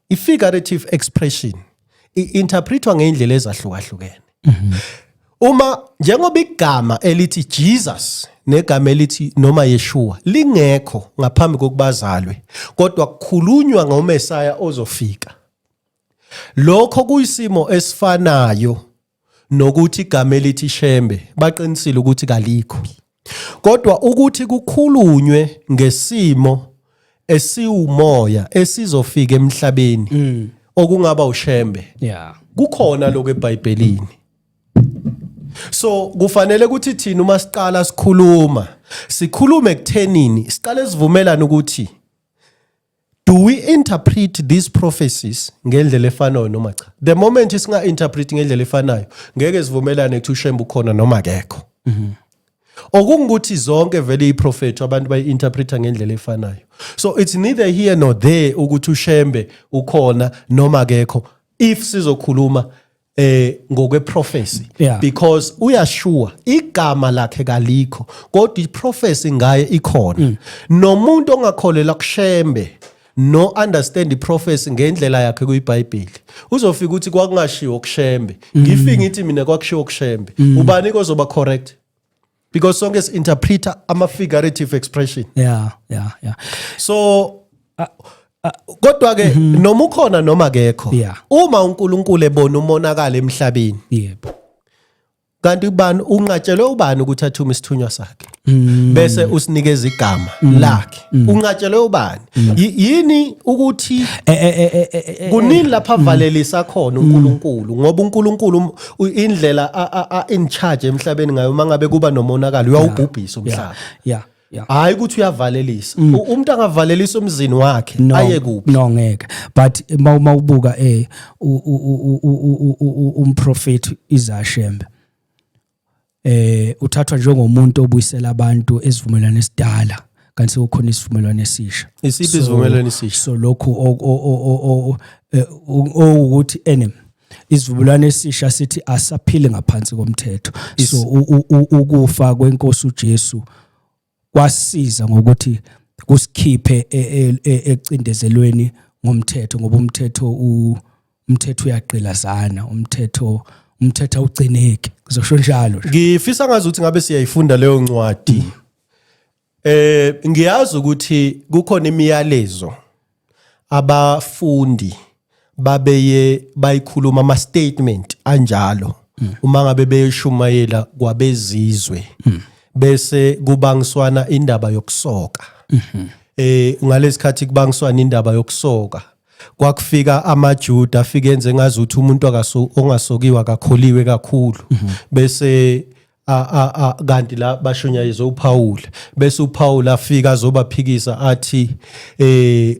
I-figurative expression i-interpretwa ngey'ndlela ezahlukahlukene mhm. uma njengoba igama elithi Jesus negama elithi noma Yeshua lingekho ngaphambi kokubazalwe kodwa kukhulunywa ngoMesaya ozofika lokho kuyisimo esifanayo nokuthi igama elithi Shembe baqinisile ukuthi kalikho kodwa ukuthi kukhulunywe ngesimo esiwumoya esizofika emhlabeni mm. okungaba uShembe yeah kukhona lokho eBhayibhelini so kufanele ukuthi thina uma siqala sikhuluma sikhulume kuthenini siqale sivumelana ukuthi do we interpret these prophecies ngendlela efanayo noma cha the moment singa interpret ngendlela efanayo ngeke sivumelane ukuthi ushembe ukhona noma akekho mhm. okungukuthi zonke vele iprofetho abantu bayi-interpreta ngendlela efanayo so it's neither here nor there ukuthi ushembe ukhona noma akekho if sizokhuluma eh ngokwe prophecy yeah. because uyashuwa igama lakhe kalikho kodwa i prophecy ngaye ikhona mm. nomuntu ongakholela kushembe no understand i prophecy ngendlela yakhe kuyiBhayibheli uzofika ukuthi kwakungashiwo kushembe mm. ngifike ngithi mina kwakushiwo kushembe mm. ubani kozoba correct because sonke si interpreter ama figurative expression yeah yeah yeah so uh, uh, kodwa ke mm -hmm. noma ukhona noma akekho yeah. uma uNkulunkulu ebona umonakala emhlabeni yebo kanti ubani unqatshelwe ubani ukuthi athume isithunywa sakhe mm. bese usinikeza igama mm. lakhe Mm. unqatshelwe ubani mm. yini ukuthi eh, eh, eh, kunini lapha mm. valelisa khona uNkulunkulu ngoba uNkulunkulu um, indlela a in charge emhlabeni ngayo mangabe kuba nomonakalo uyawubhubhisa umhlaba yeah yeah hayi ukuthi uyavalelisa umuntu angavalelisa umzini wakhe aye kuphi no ngeke but uma ubuka eh umprofeti izashembe eh uthathwa njengomuntu obuyisela abantu esivumelwano esidala kanti sekukhona isivumelwano esisha isiphi isivumelwano esisha so lokhu eh, ukuthi enem isivumelwano esisha sithi asaphili ngaphansi komthetho so ukufa kwenkosi uJesu kwasiza ngokuthi kusikhiphe e, e, e, ecindezelweni ngomthetho ngoba umthetho umthetho uyagqilazana umthetho umthetho ugcineki ngizosho njalo ngifisa ngazi ukuthi ngabe siyayifunda leyo ncwadi eh ngiyazi ukuthi kukhona imiyalezo abafundi babeye bayikhuluma ama statement anjalo hmm. uma ngabe beyishumayela kwabezizwe hmm. bese kubangiswana indaba yokusoka mhm. eh ngalesikhathi kubangiswana indaba yokusoka kwakufika amaJuda afike enze ngazuthi umuntu akaso ongasokiwa akakholiwe kakhulu mhm. bese kanti la bashunyayizwe uPawula bese uPawula afika azobaphikisa athi eh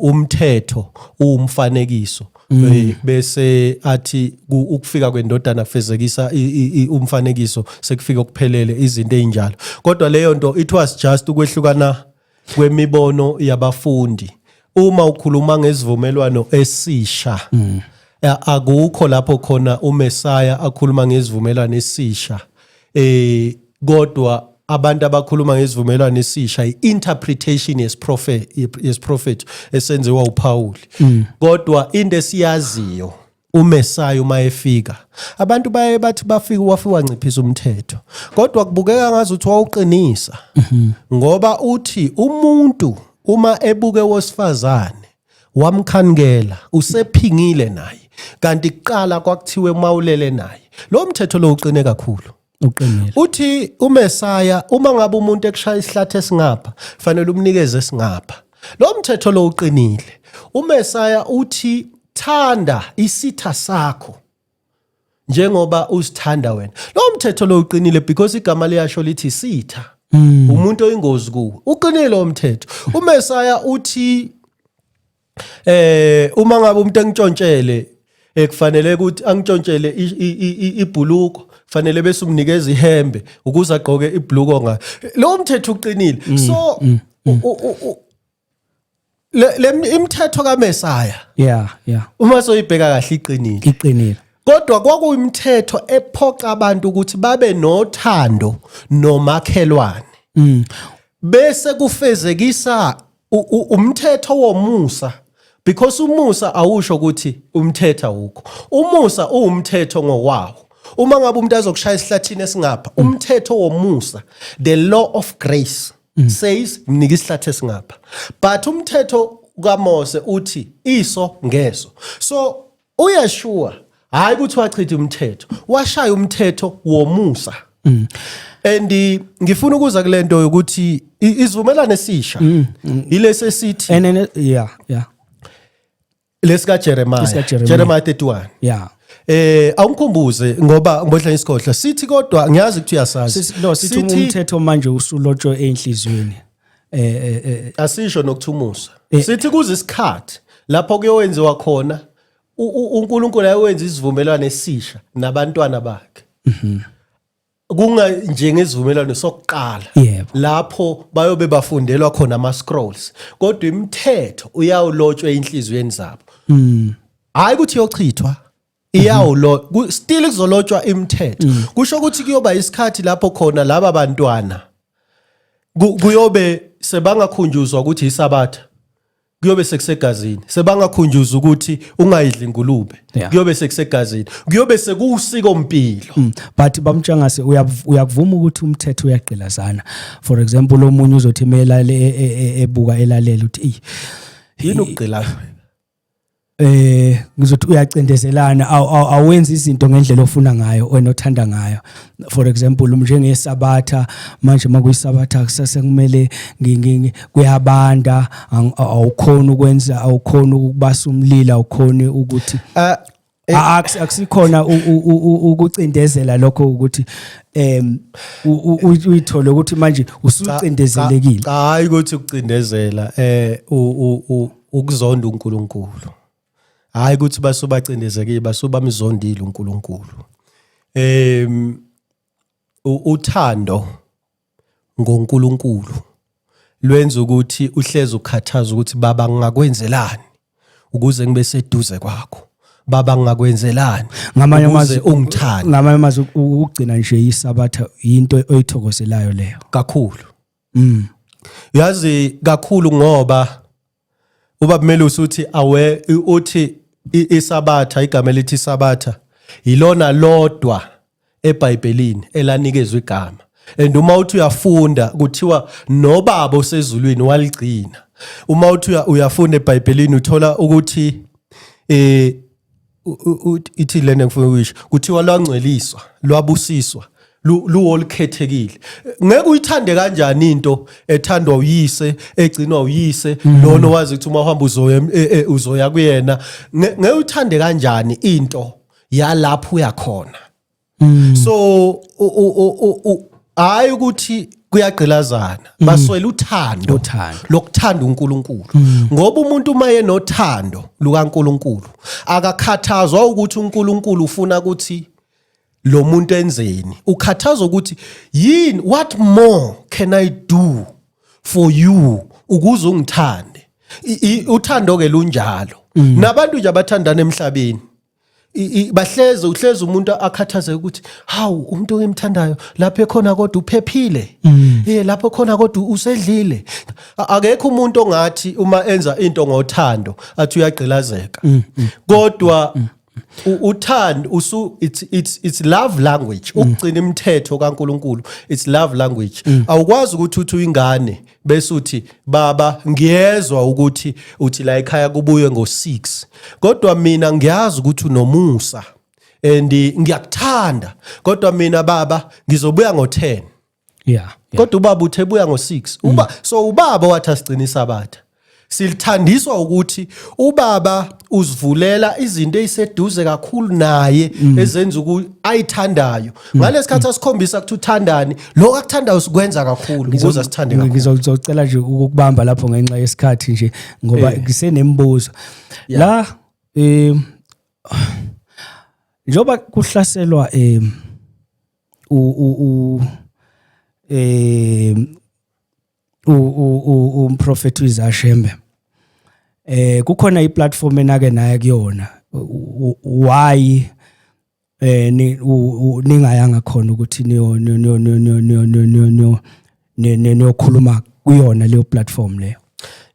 umthetho uwumfanekiso mm. eh, bese athi ukufika kwendodana kufezekisa umfanekiso sekufika ukuphelele izinto ezinjalo kodwa leyo nto it was just ukwehlukana kwemibono yabafundi uma ukhuluma ngesivumelwano esisha mm. akukho lapho khona uMessiah akhuluma ngesivumelwano esisha eh kodwa abantu abakhuluma ngesivumelwano esisha i-interpretation yesiprofethi yesiprofethi esenziwa uPawuli mm. kodwa into esiyaziyo uMesaya uma efika abantu baye bathi bafika wafika wanciphisa umthetho kodwa kubukeka ngazi ukuthi wawuqinisa mhm. ngoba uthi umuntu uma ebuke wosifazane wamkhanikela usephingile naye kanti kuqala kwakuthiwe mawulele naye lo mthetho lo uqine kakhulu uqinile uthi umesaya uma ngabe umuntu ekushaya isihlathi esingapha fanele umnikeze esingapha lo mthetho lo uqinile umesaya uthi thanda isitha sakho njengoba usithanda wena lo mthetho lo uqinile because igama liyasho lithi sitha hmm. umuntu oyingozi kuwe uqinile lo mthetho umesaya uthi eh uma ngabe umuntu engitshontshele ekufanele eh, ukuthi angitshontshele ibhuluko fanele bese umnikeza ihembe ukuze agqoke ibhuluko ngayo lo mthetho uqinile mm, so mm, mm. le imithetho kaMesaya yeah yeah uma soyibheka kahle iqinile iqinile kodwa kwakuyimithetho ephoqa abantu ukuthi babe nothando nomakhelwane bese kufezekisa umthetho womusa because umusa awusho ukuthi umthetha wukho umusa uwumthetho ngokwawo uma ngabe umuntu azokushaya esihlathini esingapha mm. umthetho womusa the law of grace mm. says mnika isihlathi esingapha but umthetho kaMose uthi iso ngeso so UYeshua hayi ukuthi wachitha umthetho, washaya umthetho womusa. Mm. And eh, ngifuna ukuza kulento yokuthi isivumelane sisha mm, mm. ilesi esithi And then yeah, yeah. lesika Jeremiah, Lesika Jeremiah. Jeremiah 31. Yeah. Eh awungikhumbuze ngoba ngibodla isikhohla sithi kodwa ngiyazi ukuthi uyasazi. Sis- No, sithi uma umthetho manje usulotshwe enhliziyweni. eh, eh, eh asisho nokuthumusa eh, sithi kuze isikhathi lapho kuyowenziwa khona uNkulunkulu ayenza isivumelwano esisha nabantwana bakhe mhm. kunga njengesivumelwano sokuqala lapho bayobe bafundelwa khona ama scrolls kodwa imithetho uyawulotshwa enhlizweni zabo mm. hayi ukuthi yochithwa iyawulo ku- still kuzolotshwa imithetho Mm. kusho ukuthi kuyoba isikhathi lapho khona laba bantwana ku- kuyobe sebangakhunjuzwa ukuthi isabatha kuyobe sekusegazini sebangakhunjuzwa ukuthi ungayidli ingulube Yeah. kuyobe sekusegazini kuyobe sekuwusiko mpilo Mm. but bamtshangase uyav- uyakuvuma ukuthi umthetho uyagqilazana for example omunye uzothi melale e- e- e- ebuka elalele ukuthi eyi yini ukugqilaza eh ngizothi uyacindezelana awenza izinto ngendlela ofuna ngayo wena othanda ngayo for example njengesabatha manje makuyisabatha kusase kumele kuyabanda awukhona ukwenza awukhona ukubasa umlilo awukhona ukuthi ah, Eh, A- akusi- akusikhona u- u- u- u- ukucindezela lokho ukuthi em u- u- u- uyithole ukuthi manje usucindezelekile Cha, hayi ukuthi ukucindezela eh u- u- u- ukuzonda uNkulunkulu. Hayi ukuthi basubacindezekile basuba mzondile uNkulunkulu. Em u- uthando ngoNkulunkulu lwenza ukuthi uhleze ukhathaza ukuthi baba ngingakwenzelani ukuze ngibe seduze kwakho baba ngingakwenzelani ngamanye amazwi ungithanda ngamanye amazwi ukugcina nje isabatha into oyithokozelayo leyo kakhulu mm yazi kakhulu ngoba ubaba Melusi uthi awe uthi isabatha igama elithi isabatha yilona lodwa eBhayibhelini elanikezwe igama and uma uthi uyafunda kuthiwa nobaba osezulwini waligcina uma uthi uyafunda eBhayibhelini uthola ukuthi eh ithi lena ngifuna ukuyisho kuthiwa lwangcweliswa lwabusiswa luwolukhethekile ngeke uyithande kanjani into ethandwa uyise egcinwa uyise mm. lona wazi ukuthi uma uhamba uzoya e, e, uzoya kuyena ngeke uyithande kanjani into yalapho uyakhona mm. so hayi ukuthi kuyagqilazana mm. baswela uthando lokuthanda uNkulunkulu mm. ngoba umuntu uma yenothando lukaNkulunkulu akakhathazwa ukuthi uNkulunkulu ufuna ukuthi lo muntu enzeni ukhathazwa ukuthi yini what more can i do for you ukuze ungithande uthando ke lunjalo mm. nabantu nje abathandana emhlabeni bahleze uhleze umuntu akhathazeke ukuthi hawu umuntu engimthandayo lapho ekhona kodwa uphephile mm. eh lapho khona kodwa usedlile akekho umuntu ongathi uma enza into ngothando athi uyagqilazeka mm, mm, kodwa uthando usu it's it's it's love language ukugcina imithetho kaNkuluNkulu it's love language awukwazi ukuthi uthi uyingane bese uthi baba ngiyezwa ukuthi uthi la ekhaya kubuye ngo6 kodwa mina ngiyazi ukuthi unomusa and ngiyakuthanda kodwa mina baba ngizobuya ngo10 yeah kodwa ubaba uthebuya ngo6 uba mm. so ubaba wathi asiqinisa abatha silithandiswa ukuthi ubaba uzivulela izinto eziseduze kakhulu naye mm. ezenza ukuthi ayithandayo mm. ngalesikhathi mm. asikhombisa ukuthi uthandani lokho akuthandayo sikwenza kakhulu ukuze sithande kakhulu ngizocela nje ukubamba lapho ngenxa yesikhathi nje ngoba eh. ngisenemibuzo la eh njoba kuhlaselwa eh u u eh umprofethi uIsaiah Shembe eh kukhona iplatform enake naye kuyona why eh ningayanga khona ukuthi niyo niyo niyo niyo niyo niyo niyo niyokhuluma kuyona leyo platform leyo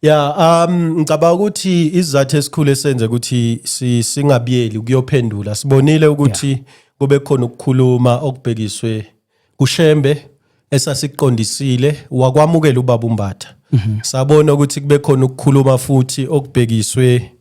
Yeah, um ngicabanga ukuthi izizathu esikhulu esenze ukuthi singabiyeli kuyophendula. Sibonile ukuthi kube khona ukukhuluma okubhekiswe kuShembe esasiqondisile wakwamukela ubaba uMbatha mhm. sabona ukuthi kube khona ukukhuluma futhi okubhekiswe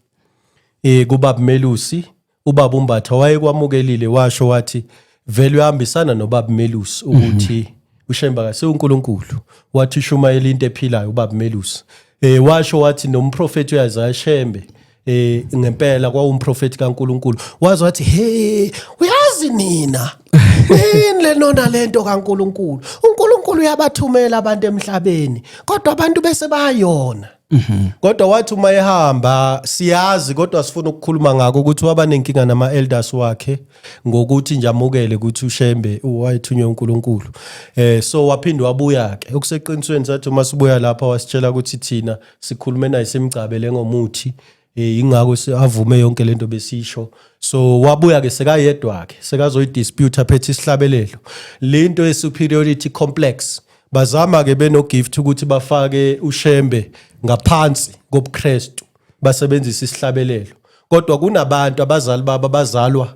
eh kubaba Melusi ubaba uMbatha wayekwamukelile washo wathi vele uyahambisana nobaba Melusi mhm. ukuthi uShembe akase uNkulunkulu wathi shumayela into ephilayo ubaba Melusi eh washo wathi nomprofeti uyazi ashembe eh ngempela kwawumprofeti kaNkuluNkulu wazi wathi hey uyazi nina yini lenona lento kaNkuluNkulu uNkuluNkulu uyabathumela abantu emhlabeni kodwa abantu bese bayona mhm. kodwa wathi uma ehamba siyazi kodwa sifuna ukukhuluma ngako ukuthi waba nenkinga nama elders wakhe ngokuthi nje amukele ukuthi uShembe wayethunywe uNkulunkulu eh so waphinde wabuya ke okuseqinisweni sathi uma sibuya lapha wasitshela ukuthi thina sikhulume naye simgcabele ngomuthi eh, ingakho avume yonke lento besisho so wabuya ke sekayedwa ke sekazoyidispute aphethe isihlabelelo lento ye superiority complex bazama ke benogift ukuthi bafake ushembe ngaphansi kobuKristu basebenzisa isihlabelelo kodwa kunabantu abazali baba bazalwa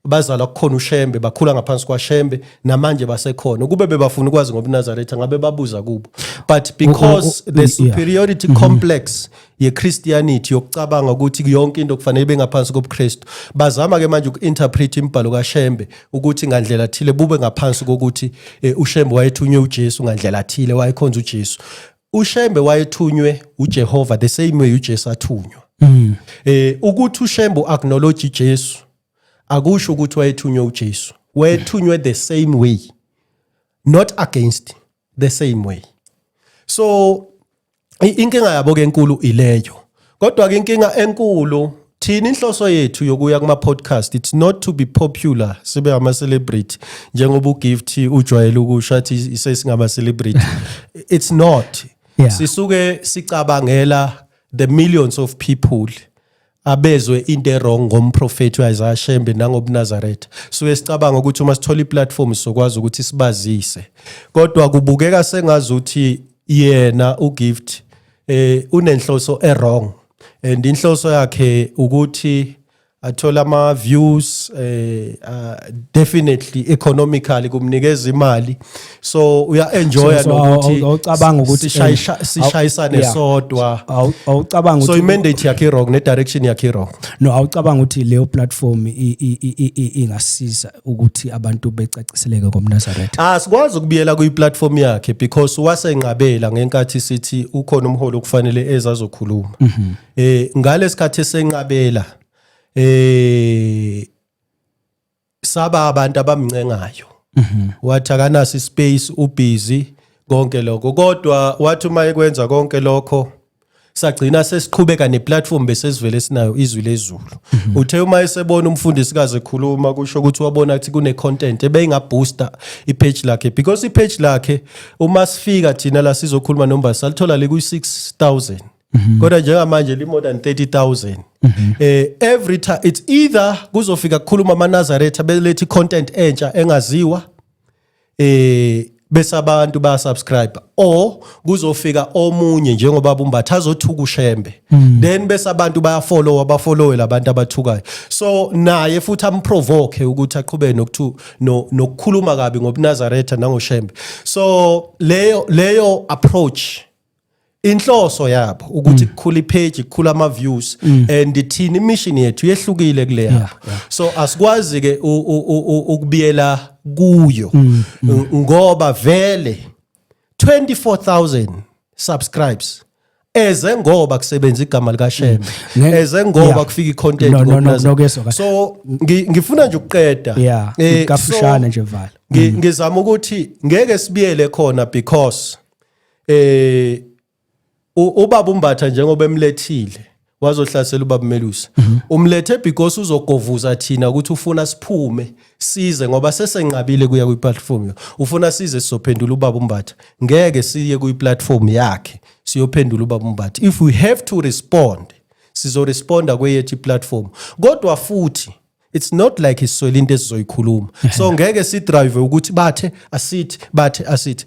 bazalwa kukhona uShembe bakhula ngaphansi kwaShembe namanje basekhona kube bebafuna ukwazi ngobuNazaretha ngabe babuza kubo but because oh, oh, oh, the superiority yeah. Mhm. complex yeChristianity yokucabanga ukuthi yonke into kufanele bengaphansi kobuKristu bazama ke manje uku-interpret imibhalo kaShembe ukuthi ngandlela thile bube ngaphansi kokuthi eh, uShembe wayethunywe uJesu ngandlela thile wayekhonza uJesu uShembe wayethunywe uJehova the same way uJesu athunywa mm. eh ukuthi uShembe acknowledge uJesu akusho ukuthi wayethunywe uJesu wayethunywe the same way not against the same way so inkinga yabo ke enkulu ileyo kodwa ke inkinga enkulu thina inhloso yethu yokuya kuma podcast it's not to be popular sibe ama celebrity njengoba ugift ujwayele ukusho athi sesingama celebrity it's not yeah. sisuke sicabangela the millions of people abezwe into erong ngomprofethi uIsaiah Shembe nangobuNazaretha suke sicabanga ukuthi uma sithola iplatform sokwazi ukuthi sibazise kodwa kubukeka sengazi ukuthi yena uGift eh unenhloso erong and inhloso yakhe ukuthi athola ama views eh uh, definitely economically kumnikeza imali so uya enjoya So, so, awu- nokuthi awu- awucabanga ukuthi, sishayisha- eh, awu- sishayisane yeah. sodwa Awu- awucabanga so ukuthi imandate yakhe wrong nedirection yakhe wrong no awucabanga ukuthi leyo platform i- i- i- i- i- ingasiza ukuthi abantu becaciseleke ngomnazaretha Ah sikwazi ukubiyela kuyiplatform yakhe because wasenqabela ngenkathi sithi ukhona umholi okufanele ezazokhuluma. Eh ngalesikhathi esenqabela eh saba abantu abamncengayo mhm. wathi akanaso ispace ubusy konke lokho kodwa wathi uma ekwenza konke lokho sagcina sesiqhubeka neplatform besesivele sinayo izwi lezulu mhm. uthe uma esebona umfundisi kaze ekhuluma kusho ukuthi wabona ukuthi kune content ebeyinga booster i page lakhe because i page lakhe uma sifika thina la sizokhuluma nomba salithola le ku 6000 Mhm. kodwa njengamanje li more than 30000 mhm. eh every time it's either kuzofika kukhuluma amanazaretha belethi content entsha engaziwa eh bese abantu ba subscribe or kuzofika omunye njengoba bumbatha azothuka ushembe mhm. then bese abantu baya follow abafollowe labantu abathukayo so naye futhi amprovoke ukuthi aqhubeke nokuthu nokukhuluma kabi ngobunazaretha nangoshembe so leyo leyo approach inhloso yabo ukuthi mm. kukhula ipage kukhula ama views mm. and thini mission yethu yehlukile kule yabo so asikwazi ke ukubiyela kuyo mm, ngoba vele 24000 subscribes eze ngoba kusebenza igama lika Shembe eze ngoba kufika icontent no, no, no, so ngifuna nje ukuqeda yeah eh, kafushane nje vala ngizama ukuthi ngeke sibiyele khona because eh ubaba umbatha njengoba emlethile wazohlasela ubaba Melusi mhm. umlethe because uzogovuza thina ukuthi ufuna siphume size ngoba sesenqabile kuya kwi platform yo ufuna size sizophendula ubaba umbatha ngeke siye kwi platform yakhe siyophendula ubaba umbatha if we have to respond sizoresponda kweyethu iplatform kodwa futhi it's not like iswele into esizoyikhuluma so ngeke sidrive ukuthi bathe asithi bathe asithi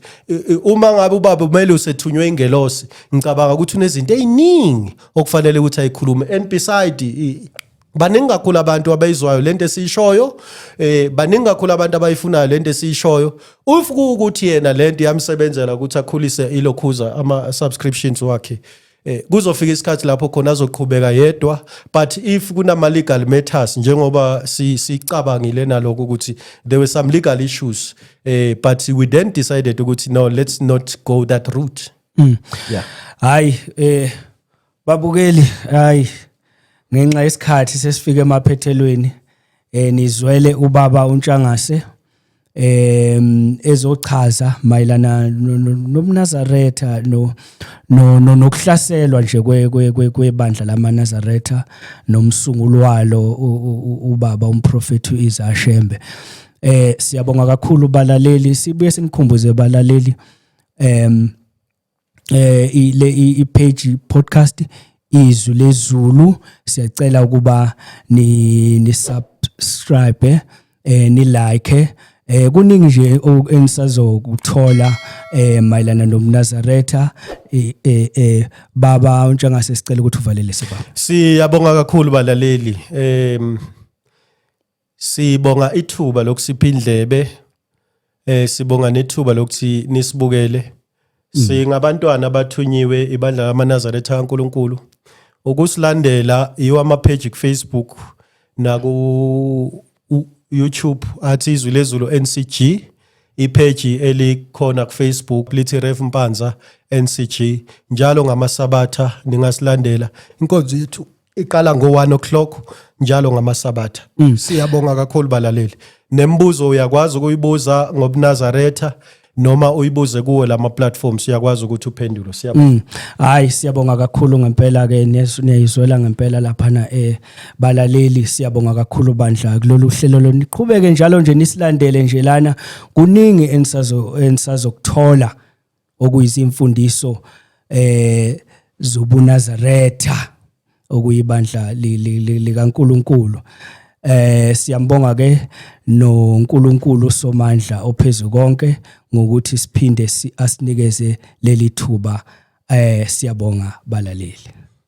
uma ngabe ubaba kumele usethunywe ingelosi ngicabanga ukuthi unezinto eziningi okufanele ukuthi ayikhulume and beside baningi kakhulu abantu abayizwayo lento esiyishoyo eh baningi kakhulu abantu abayifunayo lento esiyishoyo ufuku ukuthi yena lento yamsebenzela ukuthi akhulise ilokhuza ama subscriptions wakhe Eh kuzofika isikhathi lapho khona azoqhubeka yedwa but if kunama legal matters njengoba sicabangile si naloko ukuthi there were some legal issues eh but we then decided ukuthi no let's not go that route. Mm. Yeah. Hayi eh babukeli hayi ngenxa yesikhathi sesifike emaphethelweni eh nizwele ubaba uNtshangase em ezochaza mayelana nobunazaretha no nokuhlaselwa nje kwebandla lamanazaretha nomsunguli walo ubaba umprofethi uIsa Shembe eh siyabonga kakhulu balaleli sibuye sinikhumbuze balaleli em eh le ipage podcast izwi lezulu siyacela ukuba ni ni subscribe eh ni like eh kuningi nje enisazokuthola eh mayelana nomnazaretha eh, eh eh baba untshangase sicela ukuthi uvalele sebaba siyabonga kakhulu balaleli em Sibonga ithuba lokusipha indlebe eh sibonga nethuba lokuthi nisibukele. Mm. Singabantwana abathunyiwe ibandla lamaNazaretha kaNkuluNkulu. Ukusilandela yiwa ama page ku Facebook naku YouTube athi izwi lezulu NCG ipage elikhona ku Facebook lithi Ref Mpanza NCG njalo ngamasabatha ningasilandela inkonzo yethu iqala ngo-1 o'clock njalo ngamasabatha mm. siyabonga kakhulu balaleli nembuzo uyakwazi ukuyibuza ngobunazaretha noma uyibuze kuwo lama platforms uyakwazi ukuthi uphendule siyabonga mm. hayi siyabonga kakhulu ngempela ke niyayizwela ngempela lapha na eh balaleli siyabonga kakhulu bandla kulolu hlelo loniqhubeke njalo nje nisilandele nje lana kuningi enisazo enisazokuthola okuyizimfundiso eh zobunazaretha okuyibandla likaNkuluNkulu eh siyambonga ke noNkulunkulu somandla ophezulu konke ngokuthi siphinde asinikeze leli thuba eh siyabonga balaleli